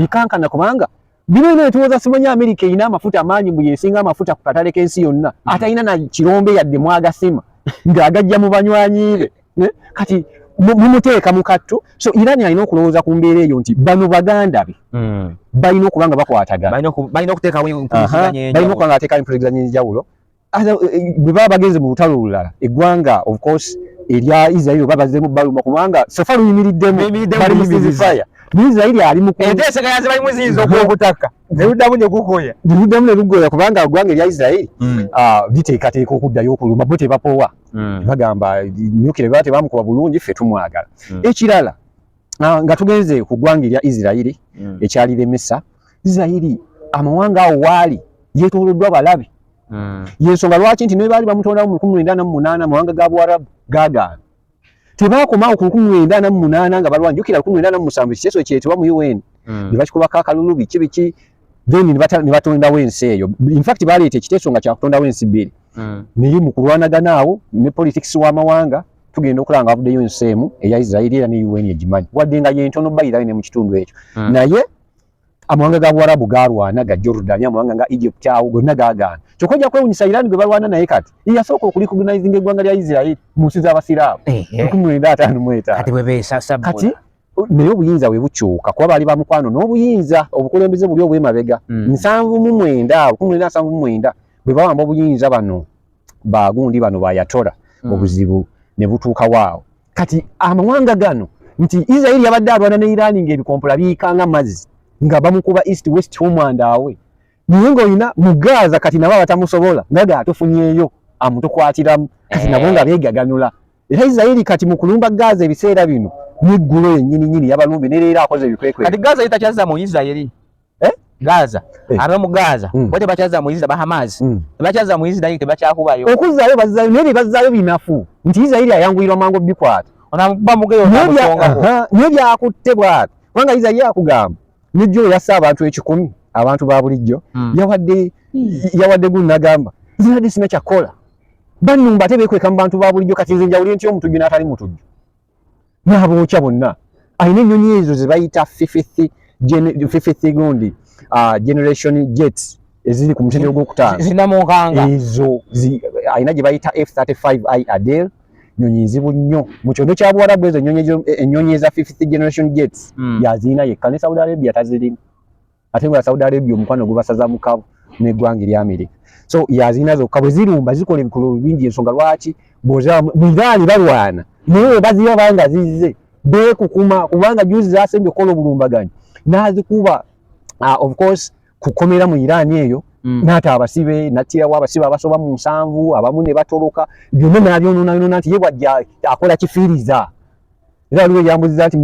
ekankana kubanga bino bino etuwoza simanyi amerika erina amafuta amaanyi mbu yesinga amafuta ku katale k'ensi yonna mm. atalina na kirombe yadde mwagasima ng'agajja mu banywanyi be Eh, kati mumuteeka mu kattu so irani alina okulowooza ku mbeera eyo nti bano baganda be hmm. balina okuba nga bakwataganabalina okuteekawo empuliziganya enjawulo eh, bwe baba bagenze mu lutalo olulala eggwanga of course erya israeli oba bazemu baluma kubanga sofa luyimiriddemu bali musizifaya israeli ali mukuokutaka neludamu negukoya neludamu nelugoya kubanga eggwanga erya israeli hmm. ah, liteekateeka okuddayo okuluma bo tebapowa mm. bagamba nyukire bate bamukuba bulungi fe tumwagala mm. ekirala ah, nga tugenze ku gwanga erya Isirairi mm. ekyali lemesa Isirairi amawanga awo waali yetooloddwa balabi mm. yensonga lwaki nti nebaali bamutondawo mu lukumi lwenda namu munaana amawanga ga buwarabu gagaana tebakomawo ku lukumi lwenda namu munaana nga balwanjukira lukumi lwenda namu musanvu ekiteeso kyetebwa mu un mm. ne bakikubako akalulu biki biki then ne batondawo ensi eyo infact baleeta ekiteeso nga kyakutondawo ensi bbiri hmm. naye mu kulwanagana awo ne politics w'amawanga tugenda okulaba nga wavuddeyo ensi emu eya israeli era ne un egimanyi wadde nga yentono bayirayo ne mu kitundu ekyo hmm. naye amawanga ga buwarabu galwana ga jordan amawanga nga egypt awo gonna gagaana kyokka ojja kwewunyisa iran gwe balwana naye kati eyasooka okulicognizing eggwanga lya israeli mu nsi z'abasiraamu eh, eh. kati bwe beesasabula naye obuyinza bwe bukyuka kuba baali ba mukwano n'obuyinza obukulembeze buli obwemabega hmm. nsanvu mu mwenda abo kumi na nsanvu mu mwenda bwe bawamba obuyinza bano bagundi bano bayatora hmm. obuzibu ne butuuka waawo kati amawanga gano nti israeli yabadde alwana ne irani ng'ebikompola biyikanga mazzi nga bamukuba east west omwandaawe naye ng'olina mu gaaza kati nabo abatamusobola nga gaatufunyeeyo amutukwatiramu kati nabo nga eh. beegaganula Era Isiraeri kati mu kulumba Gaza ebiseera bino n'eggulo yennyini nyini yabalumbye ne leero akoze ebikwekwe. Kati Gaza yitakyazza mu Isiraeri. Eh? Gaza. Eh. Aba mu Gaza. Mm. Bote bakyazza mu Isiraeri ba Hamas. Mm. Bakyazza mu Isiraeri tebakyakubayo. Okuzzaayo bazzaayo naye bazzaayo binafu nti Isiraeri ayanguyirwa mangu obikwata. Onamukuba mugeyo onamusongako. Naye byakutte bwati. Kubanga Isiraeri akugamba n'ejjo yassa abantu ekikumi abantu ba bulijjo mm. yawadde mm. yawadde gunnagamba zinadde sina kyakola bannumba ate beekweka mu bantu ba bulijjo kati nze njawulire nti omutujju n'atali mutujju n'abookya bonna alina ennyonyi ezo ze bayita fifth gundi uh, generation jet eziri ku mutendero gw'okutaano ezo alina gye bayita f 35 i adel nyonyi nzibu nnyo mu kyondo kya buwarabu ezo ennyonyi eza fifth generation jets hmm. yazirina yekka ne saudi arabia tazirimu ate nga Saudi Arabia omukwano gubasaza mukabu n'eggwanga erya Amerika so yazina zokka bwe zirumba zikola ebikolwa bingi ensonga lwaki bwezabudhaali balwana naye baziba banga zizze beekukuma kubanga juzi zasembye okukola obulumbaganyi n'azikuba ah, of course kukomera mu Iran eyo mm. nata abasibe natira wa abasibe abasoba mu nsanvu abamu ne batoloka byonna nabyonona yonona nti ye bwajja akola kifiriza era waliwo eyambuziza nti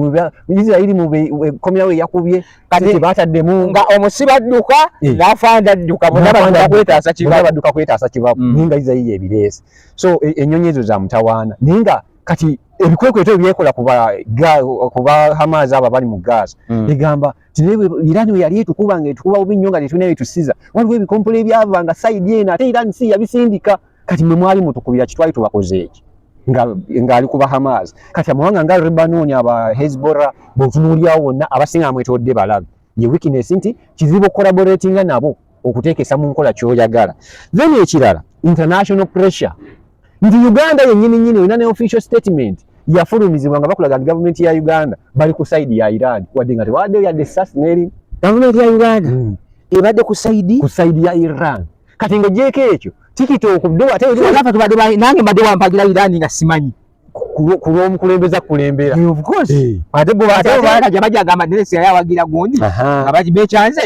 isirairi mukomyawo eyakubye kati bataddemu nga omusiba adduka eh. nafa nda adduka munabakwetaasa kibabaduka kwetaasa kibabu mm. naye nga isirairi ebireesi so e, enyonyi ezo za mutawaana naye nga kati ebikwekweto ebyekola kuba hamaazi abo abali mu gaasi mm. egamba irani weyali etukuba nga etukuba bubi nnyo nga tetulina byetusiza waliwo ebikompola ebyava nga saidi eno ate irani si yabisindika kati mwe mwali mutukubira kitwali tubakoze eki ngaali ku bahamas kati amawanga nga lebanon aba hezbora bwetunuulyawo wonna abasinga amwetodde balabe ye weakness nti kizibu collaboratinga nabo okuteekesa mu nkola kyoyagala then ekirala international pressure nti uganda yenyini nyini olina ne official statement yafulumizibwa nga bakulaga nti gavumenti ya uganda bali ku saidi ya iran wadde nga tewaaddeyo yadde sasneri gavumenti ya uganda hmm. ebadde ku saidi ku saidi ya iran kati nga jeko ekyo tikiti okuddewo ate nafe tubadde nange mbadde wampagira irani nga simanyi kulwomukulembeza kulembera ate gwebaja bajagamba neresi yali awagira gundi nga bekyanze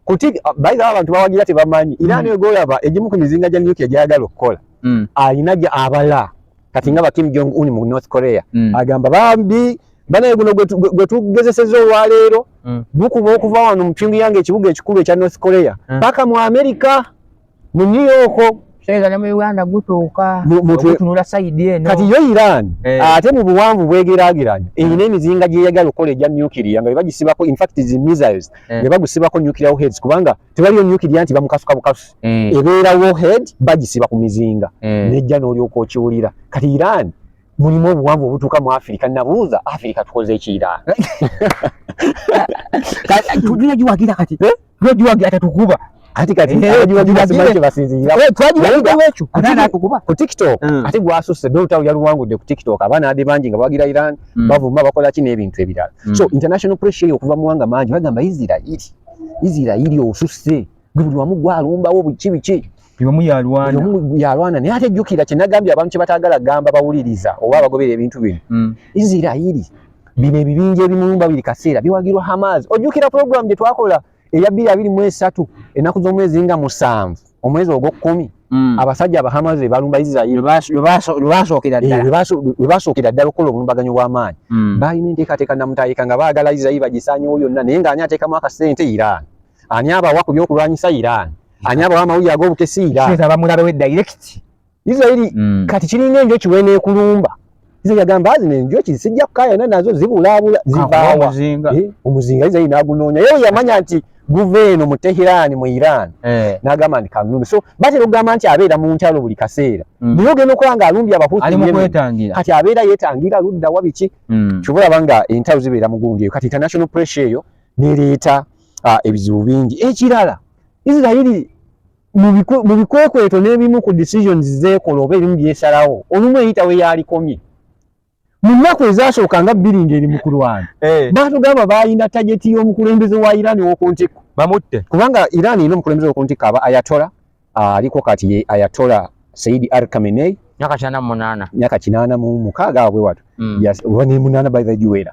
kuti bayiga abantu bawagira tebamanyi irani mm. egolaba egimu ku mizinga gya nukia gyayagala okukola mm. alina abala kati nga ba Kim Jong Un mu North Korea mm. agamba bambi banaye guno gwe tugezeseza olwaleero mm. bukuba okuva wano mu Pyongyang ekibuga ekikulu ekya North Korea mm. paka mu Amerika mu New York Sega ne mu Uganda gutuuka okutunula side eno kati yo Iran eh. ate mu buwanvu bwegeraageranya mm. eyina emizinga gyeyagala okukola egya nuclear nga bebagisiba ko in fact these missiles eh. bebagisiba ko nuclear heads kubanga tewaliyo nyukirya nti bamukasuka bukasu mm. ebeera warhead bagisiba ku mizinga mm. nejja n'olyoka okiwulira kati iran mulimu obuwanvu obutuuka mu afirika nabuuza afirika tukoze eki iran tujula giwagira kati eh? tujula giwagira tatukuba kati kati eh, ku tiktok mm. ate gwasusse dota yaluwangudde ku tiktok abaana ade bangi nga bawagira iran mm. bavuma bakola ki n'ebintu ebirala so international pressure okuva muwanga mangi bagamba isirairi Isirairi osusse gwe buli wamu gwalumbawo biki biki omu yalwana omu yalwana naye ate jjukira kye nagambye abantu kye bataagala gamba bawuliriza oba abagobera ebintu bino mm. Isirairi bino ebibinja ebimulumba buli kaseera biwagirwa Hamas ojjukira pulogulaamu gye twakola eya bbiri abiri mu esatu ennaku z'omwezi nga musanvu omwezi ogwokumi mm. abasajja abahamaze balumba isirairi lwebasookera eh, ddala okukola obulumbaganyo bw'amaanyi mm. balina enteekateeka namutayika nga baagala isirairi bagisanyewo yonna naye nga ani ateekamu akasente iran ani abawa ku byokulwanyisa iran ani abawa amawulire ag'obukesi iran Israeli mm. kati kiringa enjoki weneekulumba Israeli agamba zino enjoki sijja kukayana nazo zibulaabula zivaawa omuzinga eh, omuzinga Israeli n'agunoonya yewe yamanya nti guva eno mu Tehirani mu Iran eh. n'agamba nti kanulumbe so batera okugamba nti abeera mu ntalo buli kaseera mm. naye ogenda okulaba nga alumbye abahuti kati abeera yeetangira ludda wa biki mm. kyova olaba nga entalo zibeera mu gundi eyo kati international pressure eyo nereeta ah, ebizibu bingi ekirala Israeli mu bikwekweto n'ebimu ku decisions zeekola oba ebimu byesalawo olumu eyita we yaalikomye mu nnaku ezaasooka nga bbiri ng'eri mu kulwana eh. baatugamba baalina tageti y'omukulembeze wa iran w'oku ntikko bamutte kubanga iran erina omukulembeze w'oku ntikko aba ayatola ah, aliko kati ye ayatola saidi ar kamenei myaka kinaana mu munaana myaka kinaana mu mukaaga awo bwe wato hmm. ne munaana by the juwera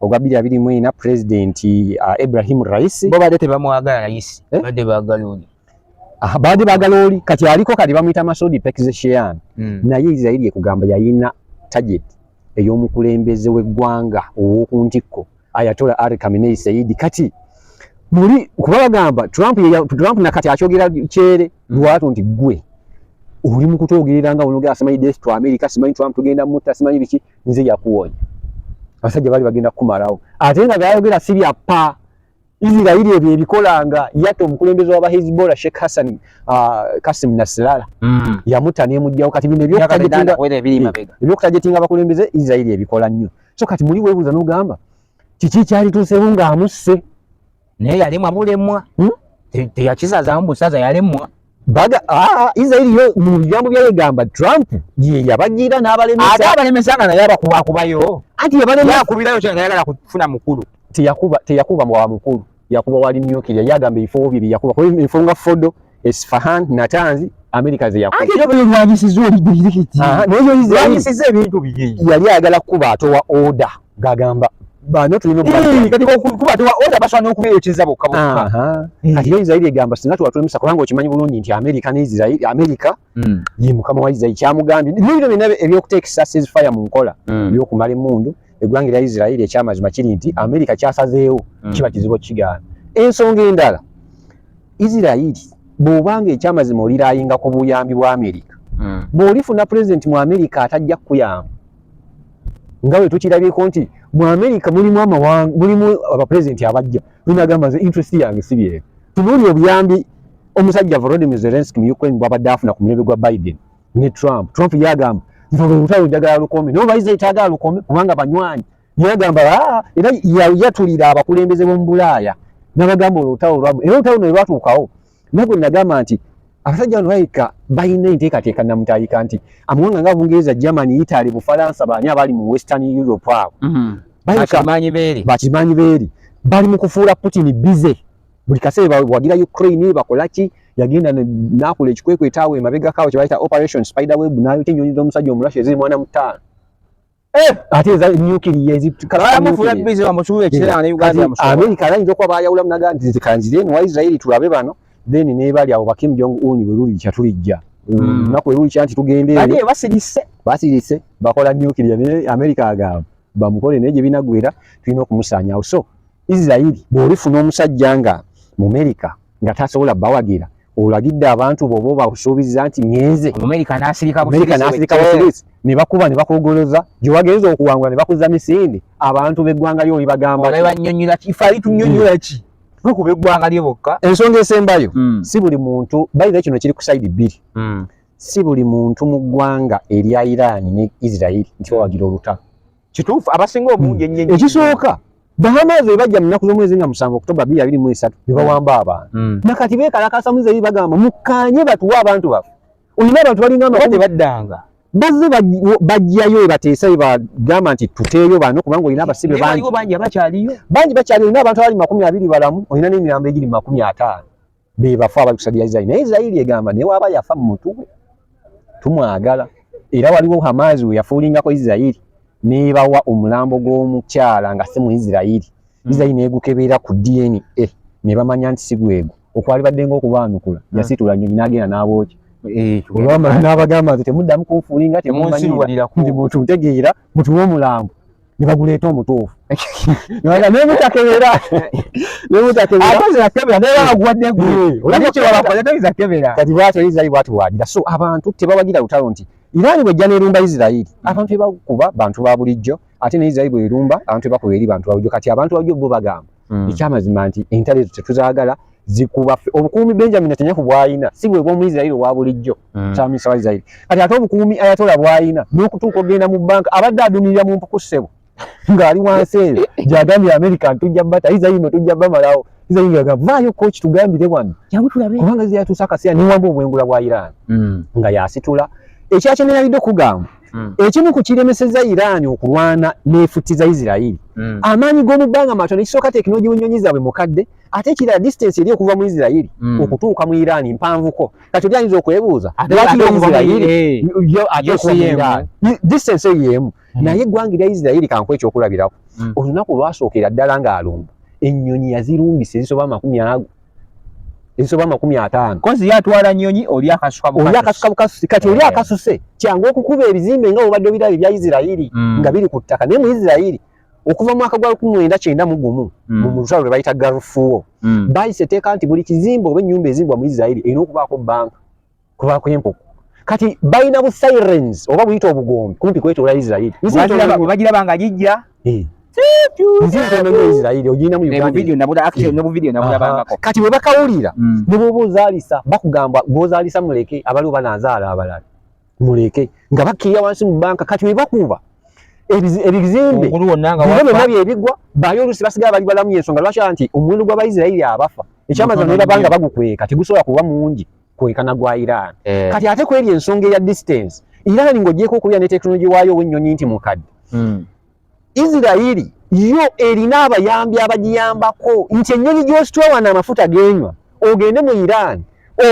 ogwa bbiri abiri mu ena pulezidenti uh, ibrahim raisi bo badde tebamwagala raisi eh? badde bagala oli ah, baadde bagala oli kati aliko kati bamuyita masudi pekzeshean hmm. naye israeli ekugamba yayina target ey'omukulembeze w'eggwanga ow'oku ntikko ayatola ari kamenei saidi kati muli kuba bagamba trump, trump nakati akyogera kyere hmm. lwatu nti gwe oli mu kutwogerera nga onogera simanyi death to america simanyi trump tugenda mutta simanyi biki nze yakuwonya abasajja bali bagenda kumalawo ate nga gayogera si bya pa Israeli ebyo ebikolanga yata omukulembeze wa Hezbollah Sheikh Hassan uh, Kasim Nasrallah mm. yamuta ne mujjawo kati bino byo kutajetinga byo kutajetinga abakulembeze Israeli ebikola nnyo so kati muli webuza nogamba kiki kyali tusewo nga amusse naye yalemwa bulemwa hmm? teyakisazaamu busaza yalemwa baga ah, ah, israeli yo mu bigambo byayegamba trump ye yabagira n'abalemesaate abalemesa nga naye abakubakubayo anti yabalemyakubirayo kyanayagala kufuna mukulu teyakuba teyakuba wa mukulu yakuba wali myukirya yagamba ebifo bye byeyakuba kuba ebifo nga fodo Esfahan, Natanzi, Amerika ze yakuba. Ate bwe lwanyisiza oli dirikiti. Aha, naye yo izi lwanyisiza ebintu biye. Yali agala kuba atowa order gagamba bano tulina obubaka. Kati ko kuba atowa order baswana okuba ekiza bokka bokka. Aha. Kati yo Israeli egamba singa tuwa tulemesa kubanga okimanyi bulungi nti Amerika ne Israeli Amerika mm. ye mukama wa isirairi kyamugambye bino byonna ebyokuteekesa sezifaya mu nkola mm. ebyokumala emundu eggwanga erya isirairi ekyamazima kiri nti amerika kyasazeewo mm. kiba kizibu okigaana ensonga endala isirairi bwobanga ekyamazima olirayinga ku buyambi bwa amerika mm. bwolifuna pulezidenti mu amerika atajja kukuyamba nga bwe tukirabyeko nti mu amerika mulimu amawanga mulimu abapulezidenti abajja linagamba nze interest yange sibyeko tunuuli obuyambi Omusajja Volodymyr Zelensky mu Ukraine bwabadde afuna ku mulembe gwa Biden ne Trump. Trump yagamba nti olwo olutalo njagala lukome. Naye olwayiza yetaagala lukome kubanga banywanyi. Yagamba ah, era yatulira abakulembeze b'omu Bulaaya n'abagamba olwo olutalo lwamu. Era olutalo ne lwatuukawo. Naye gwe nagamba nti abasajja bano balabika balina enteekateeka namutayika nti amawanga nga Bungereza, Germany, Italy, Bufalansa baani abali mu Western Europe awo. Mm-hmm. Bakimanyi beeri. Bakimanyi beeri. Bali mu kufuula Putin busy. buli kaseera bawagira Ukraine bakolaki yagenda n'akola ekikwekweto awo emabega kaawo kye bayita operation spider web n'ayo kyennyonyi z'omusajja omulashi eziri mwana mutaano eh! ate eza nyukiriya eziamerica bayinza okuba bayawulamu naga nti zikanziremu wa israeli tulabe bano then nebali awo bakim jong un welulikya tulijja hmm. lunaku welulikya nti tugendeeyo basirise bakola nyukiriya america agamba bamukole naye gye binagwera tulina okumusaanyawo so Israel bwolifuna omusajja nga mumerika nga tasobola bawagira olagidde abantu bobo bakusuubiza nti ngenze mumerika nasirika busirisi ne bakuba ne bakugoloza gye wagenze okuwangula ne bakuza misinde abantu b'eggwanga lyo olibagamba banyonyola kifali tunyonyola ki tukuba eggwanga lye bokka ensonga esembayo hmm. si buli muntu bayira kino kiri ku saidi bbiri hmm. si buli muntu mu ggwanga erya iraani ne israeli nti bawagira olutalo kituufu abasinga obungi ennyo hmm. ekisooka bahamaazi bwe bajja mu nnaku z'omwezi nga musanvu okutoba bbiri abiri mu esatu ne bawamba hmm. abantu hmm. na kati beekalakaasa mu zeri bagamba mukkaanye batuwe abantu baffe olina abantu balinga amakumi baddanga bazze bajjayo ebateesa ebagamba nti tuteeyo bano kubanga olina abasibe bangi bangi bakyaliyo olina abantu abali makumi abiri balamu olina n'emirambo egiri mu makumi ataano bebafu abakusadira Israel naye Israel egamba ne waba yafa mumutuwe tumwagala era waliwo Hamas we yafuulingako Israel nebawa omulambo gw'omukyala nga si mu Israel hmm. Israel negukebeera ku DNA ne bamanya nti si gwego okwali badde ng'okubaanukula hmm. yasitula nyonyi n'agenda n'abooki eh, olwamala n'abagamba nti temuddamu kunfuulinga temumanyiira nti mutuntegeera mutuwe omulambo ne baguleeta omutuufu naye mutakebera naye mutakebera ate nze nakebera naye baguwadde gwe hmm. olabye kye babakoze toyinza kebera kati bwatyo isirayiri bwatyo wagira so abantu tebawagira lutalo nti iraani bwejja nerumba isirayiri hmm. abantu ebakuba bantu ba bulijjo ate ne isirayiri bwerumba abantu ebakuba eri bantu babulijjo kati abantu babulijjo bo bagamba mm. ekyamazima nti entalo ezo tetuzagala zikuba obukuumi benjamin atanya ku bwayina si bwe bwomu israeli owa bulijjo mm. kyamisa wa israeli kati ate obukuumi ayatola bwayina n'okutuuka ogenda mu banka abadde adumirira mu mpuku ssebo ng'ali wansi eyo gyagambye amerika ntujja bata israeli no tujja bamalawo israeli ngagamba vaayo koki tugambire wano kubanga ziyatuusa akaseera newamba obwengula bwa iran mm. nga yasitula ekyakyemerabiddwe kugamba mm. ekimu ku kiremeseza Iran okulwana nefutiza Israel mm. amaanyi g'omu bbanga matono ekisooka tekinologi w'ennyonyi zaabwe mukadde ate ekirala distance eri okuva mu Israel mm. okutuuka mu Iran mpanvuko kati oli ayinza okwebuuza distance eyo emu mm. naye eggwanga erya Israel kankuwa ekyokulabirako mm. olunaku lwasookera ddala ng'alumba ennyonyi yazirumbisa ezisoba amakumi ago ezisoba amakumi ataano kozi yatwala nyonyi oli akasuka oli akasuka bukasusi kati oli eh. akasuse kyangu okukuba ebizimbe nga obadde obiraba ebya isirairi mm. nga biri ku ttaka naye mu isirairi okuva mu mwaka gwa lukumi mwenda kyenda mu gumu mm. mu lutalo lwe bayita garufuwo mm. bayise eteeka nti buli kizimbe oba ennyumba ezimbwa mu isirairi erina okubaako banka kuba kwempuku kati balina bu sirens oba buyita obugombe kumpi kwetoola israeli bagira banga gijja eh. kati webakawulira hmm. nebwoba ozalisa bakugamba gwozalisa muleke abaliwo banazaala abalala muleke nga bakkirira wansi mu banka kati webakuba ebizimbe byona byebigwa bayo olusi basigala bali balamu yensonga lwaki nti omuwendo gw'abaisirairi abafa ekyamazima nebabanga bagukweka tegusobola kuba mungi kwekana gwa Iran eh. kati ate kweri ensonga eya distance Iran ng'ogyeko okulya ne tekinologi waayo ow'ennyonyi nti mukadde hmm. Isirayiri yo erina abayambi abagiyambako nti ennyonyi gy'ositwawa n'amafuta g'enywa ogende mu Iran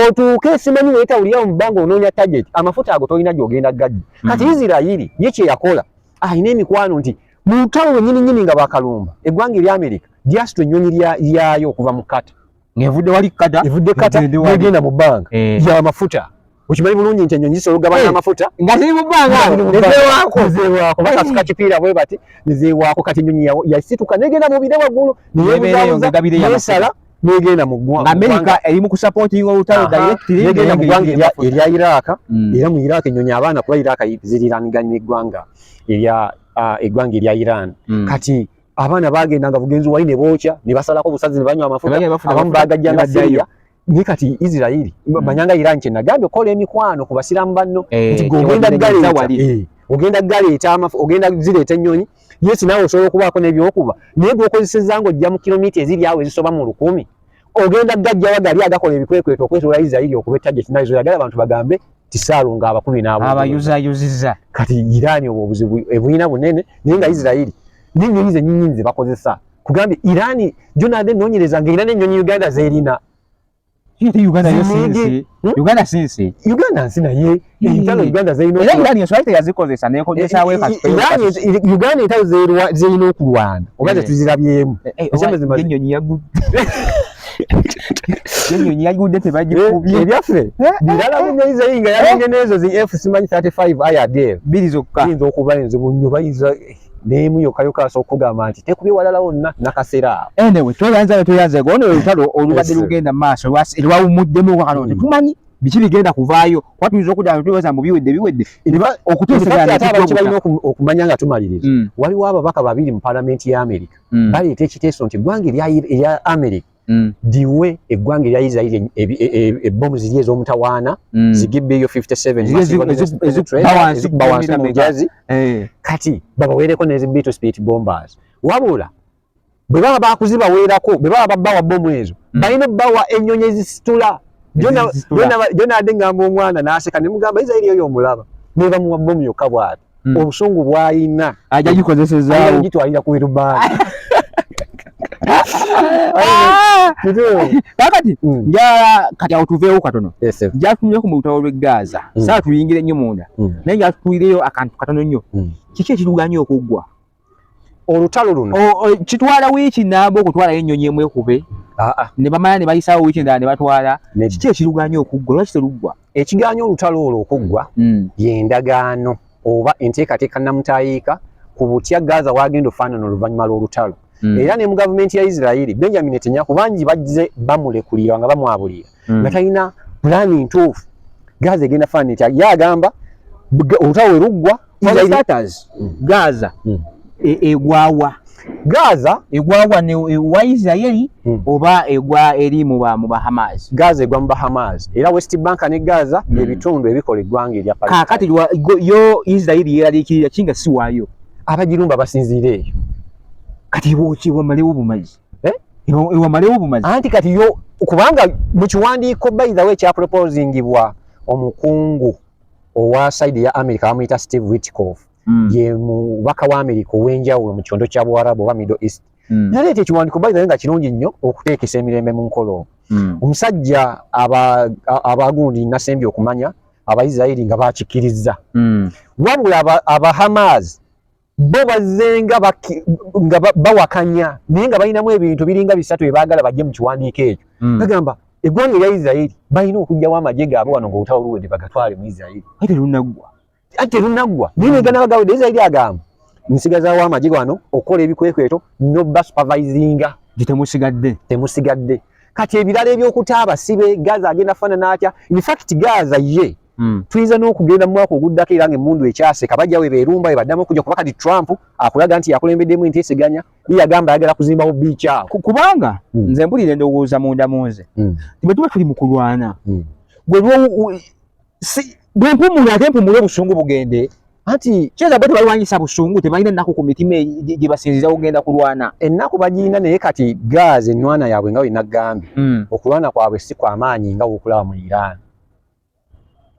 otuuke simanyi weetawulira mu bbanga onoonya target amafuta ago tolina gy'ogenda gaddi hmm. kati Isirayiri ye kye yakola alina emikwano nti mu lutalo lwennyini nnyini nga bakalumba eggwanga erya Amerika lyasitwa ennyonyi lyayo okuva mu kata ng'evudde wali kata evudde kata negenda mu bbanga eh. ya mafuta okimanyi bulungi nti enyonyi zisobola okugabana eh. amafuta nga ziri mu bbanga nezewaako zewaako bakasuka kipiira bwe bati nezewaako kati enyonyi yasituka negenda mu bire waggulu neyebuzabuzayesala negenda mu ggwanga amerika eri mu kusapotinga olutalo directly negenda mu ggwanga erya iraaka hmm. era mu iraaka enyonyi abaana kuba iraaka ziriranganya eggwanga erya ah, eggwanga erya iran hmm. kati abaana bagenda nga bugenzi wali ne bookya ne basalako obusazi ne banywa amafuta abamu bagajja nga siriya naye kati isirairi hmm. manyanga iran kye nagambye okukola emikwano ku basiraamu banno eh, nti gogenda galeeta eh, ogenda galeeta amafu ogenda zireeta ennyonyi yesi naawe osobola okubaako n'ebyokuba naye gwokozeseza nga ojja mu kilomita eziri awo ezisoba mu lukumi ogenda gajjawa gali agakola ebikwekweto okwetula Israeli okubetta gye kinayizo yagala abantu bagambe tisaalu nga abakumi n'abo abayuzayuziza kati Irani obwo obuzibu ebuyina bunene naye nga Israeli n'ennyonyi zennyinyi ze bakozesa kugambye Irani jonade nonyereza nga Irani ennyonyi Uganda zerina Uganda sinsi hmm? Uganda sinsi Uganda nsi naye entalo uganda zirina uganda entalo zirina okulwana oba tetuzirabyemu enyonyi yagudde tebagikubye ebyaffe birala bunyayiza yinga yalenge nezo zi f simanyi 35 aya dev biri zokka yinza okuba enzibu nnyo bayinza nemu yokayoka asobola okugamba nti tekubye walala wonna nakasera anyway tweyanza tweyanza ono olutalo olubadde lugenda maaso lwawumuddemu wakano tetumanyi biki bigenda kuvaayo kuba tuyinza okudda nga tubaza mbu biwedde biwedde okuteesabalina okumanya nga tumaliriza mm. waliwo ababaka babiri mu palamenti ya amerika mm. baleeta ekiteeso nti eggwanga erya amerika mm. diwe eggwanga erya isirairi e, e, e, ebbomu ziri ez'omutawaana zigibbeeyo 57ezikubawansi mu mujazi eh. kati babaweereko nezi beto speed bombers wabula bwe baba bakuzibaweerako bwe baba babawa bomu ezo mm. balina bawa ennyonyi ezisitula jonade ngamba omwana naseka nemugamba isairi oyo omulaba nebamuwa bomu yokka bwati mm. obusungu bwalina ajagikozesezagitwalira ku birubaani ah! kakati mm. njala kati awo tuveewo katono jatunuleko mu lutalo lwe gaaza saa tuyingire nnyo munda naye jatutulireyo akantu katono nnyo kiki ekiruganya okuggwa olutalo luno kitwala wiiki namba okutwalayo ennyonyi emu ekube ah, ah. ne bamala ne bayisaawo wiiki endala ne batwala kiki ekiruganya okuggwa lwaki teruggwa ekiganya olutalo olwo okuggwa hmm. yendagaano oba enteekateeka namutayiika ku butya gaza wagenda ofaanana oluvannyuma lw'olutalo hmm. era ne mu gavumenti ya isirairi benjamin netanyaku bangi bajze bamulekulira nga bamwabulira mm. nga talina pulaani ntuufu gaza egenda faana etya ye agamba olutalo we luggwa gaza mm. e, egwawa gaza egwawa wa isiraeri mm. oba egwa eri mu bahamas gaza egwa mu bahamas era west bank ne gaza byebitundu ebikola eggwanga erya kakati yo isiraeri yeraliikirira kinga siwaayo abagirumba basinziira eyo kati bwoki bwamalewo bumazi eh iwa malewo bumazi anti kati yo kubanga mu kiwandiiko by the way kya proposingibwa omukungu owa side ya America amuyita Steve Witkoff mm. ye mubaka wa America owenjawulo mu kyondo kya Buarabu oba Middle East mm. naleeta ekiwandiiko by the way nga kirungi nnyo okuteekesa emirembe mu nkolo mm. omusajja abagundi aba nasembye okumanya abaisiraeri nga bakikirizza mm. wabula abahamas aba bo bazzenga nga bawakanya naye nga balinamu ebintu biringa bisatu ebaagala bajje mu kiwandiiko ekyo hmm. bagamba eggwanga erya isiraeri balina okugjawo amagye gaabwe wano ngaolutawo luwede bagatwale mu isiraeri ate lunaggwa ate lunaggwa naye neganabagawede isiraeri agamba nsigazawo amagye gano okukola ebikwekweto noba supervisinga gye temusigadde temusigadde kati ebirala ebyokuta abasibe gaza agenda faanana atya infact gaza ye Mm. Tuinza no kugenda mu mwaka oguddako era ng'emmundu ekyase kabajja we beerumba ebaddamu okujja kuba kati Trump akulaga nti yakulembeddemu enteeseganya ye agamba ayagala kuzimbawo biici awo kubanga mm. nze mpulira endowooza munda mu nze mm. bwe tuba tuli mu kulwana mm. gwe si, bwe mpumula ate mpumule obusungu bugende anti kyeza bwe tebalwanyisa busungu tebalina ennaku ku mitima e, gye basinziza kugenda kulwana ennaku bagirina naye kati gaazi ennwana yaabwe nga wenagambye mm. okulwana kwabwe si kwamaanyi nga wokulaba mu iraani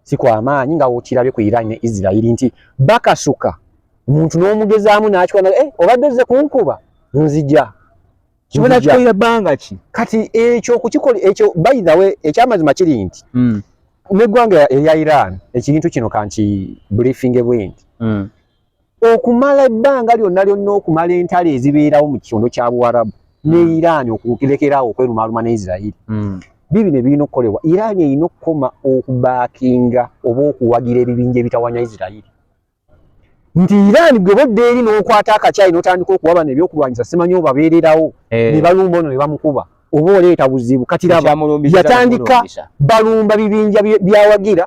sikwamaanyi nga wokirabye ku iran ne israel nti bakasuka omuntu n'omugezaamu nakikwana eh, obadde ozze kunkuba nzija kibonakikoira bbanga ki kati ekyo kukikola ekyo by the way ekyamazima kiri nti hmm. neggwanga erya iran ekintu kino kanki briefinge bwendi hmm. okumala ebbanga lyonna lyonna okumala entalo ezibeerawo mu kyondo kya buwarabu ne hmm. iran okulekeraawo okwerumaaluma ne isirairi hmm. bibino ebirina okukolebwa iran erina okukoma okubaakinga oba okuwagira ebibinja ebitawanya isirairi nti iran gwe bodda eri n'okwata akakyayi n'otandika okuba bano ebyokulwanyisa simanyi obabeererawo eh. ne balumba ono ne bamukuba oba oleeta buzibu katiraba yatandika balumba bibinja byawagira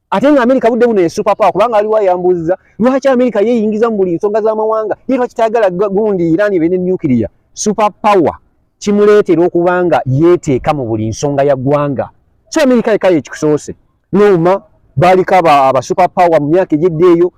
ate nga amerika budde buno esupapawa kubanga aliwo ayambuziza lwaki amerika yeyingiza mu buli nsonga z'amawanga ye lwaki tayagala gundi iran ebe ne nuclear supapawa kimuleetera okuba nga yeeteeka mu buli nsonga ya ggwanga so amerika yekayo ekikusoose nouma baaliko abasupapawa mu myaka egyedda eyo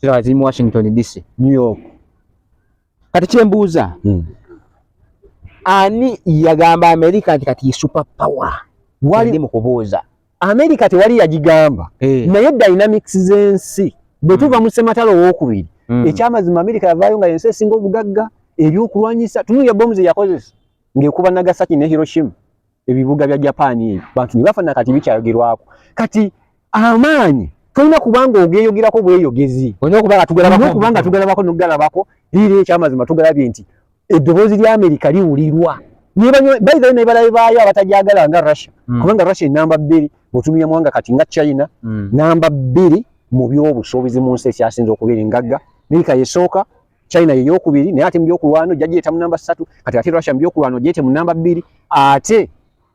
kirala kiri mu Washington DC, New York. Kati kyembuuza hmm. ani yagamba Amerika nti kati super power wali mu kubuuza Amerika tewali yagigamba hey. Eh. naye dynamics z'ensi bwe tuva hmm. mu ssematalo owokubiri hmm. ekyamazima Amerika yavaayo nga yensi esinga obugagga ebyokulwanyisa tunuya bomu ze yakozesa ng'ekuba Nagasaki ne Hiroshima ebibuga bya Japan ebyo bantu ne bafana kati bikyayogerwako kati amaanyi tolina kubanga ogeyogerako bweyogezi kubanga tugalabako nokugalabako liira ekyamazima tugalabye nti eddoboozi lya amerika liwulirwa baithae naye balabe baayo abatajagala nga russia mm. kubanga russia enamba bbiri bwetumira mwanga kati nga china mm. namba bbiri mu byobusuubizi mu nsi ekyasinza okubeera engagga amerika yesooka China ye yokubiri naye ate mu byokulwano jajireta mu namba ssatu kati ate Russia mu byokulwano jete mu namba bbiri ate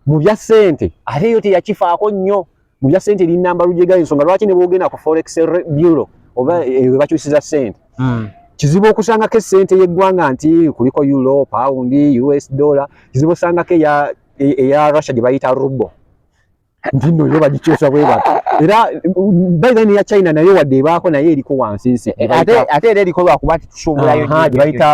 mu bya ssente ate yo teyakifaako nnyo mu bya ssente eri namba lujega ensonga lwaki ne bwogenda ku forex bureau oba hmm. eh, we bakyusiza ssente hmm. kizibu okusangako essente y'eggwanga nti kuliko euro pound us dollar kizibu osangako eya e, e, Russia gye bayita rubo ntino yo bagikyusa bwe bati era by then ya China nayo wadde ebaako naye eriko wansi nsi eh, ate ate era eriko lwakuba nti tusuubulayo gye bayita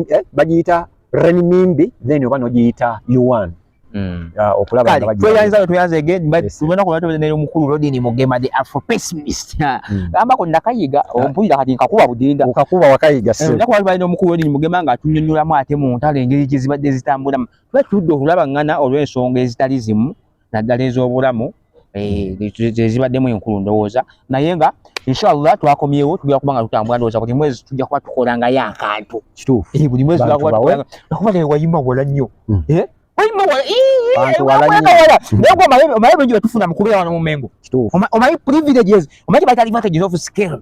eh, bagiyita renminbi then oba nogiyita yuan Mm. Uh, okulaba nga bajja tweyanza no tweyanza again but tubona ko batobeza ne mukulu rodini mugema the afro pessimist mm. gamba ko nakayiga ah. ompulira kati nkakuba budinda okakuba wakayiga eh, se ndako bali no mukulu rodini mugema nga tunyonyola mu ate mu ntale ngeri kizibadde zitambula batudde okulabaŋŋana olw'ensonga ezitali zimu naddala ez'obulamu zezibaddemu eh, enkulu ndowooza naye nga inshallah twakomyewo tujja kuba nga tutambula ndowooza buli mwezi tujja kuba tukola ngayo akantu kituufu eh, buli mwezi nakuba naye wayima wala nnyo hmm. eh, wayima wala naye omaye bingi betufuna mu kubeera wano mu mengo omaye privileges omaye kyebayita advantages of scale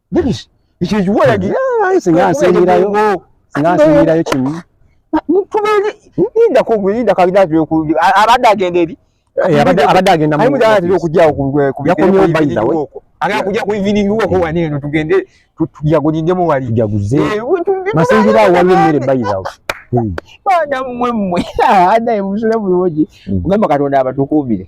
singansingirayo kimu abadde agenda eri abadde agenda okujja ku evening woko wano eno tugende tujagulindemu wali tujaguze masingira awo waliwo emmere bayizawo baana mmwe mmwe adaye musule bulungi ogamba katonda abatukuumire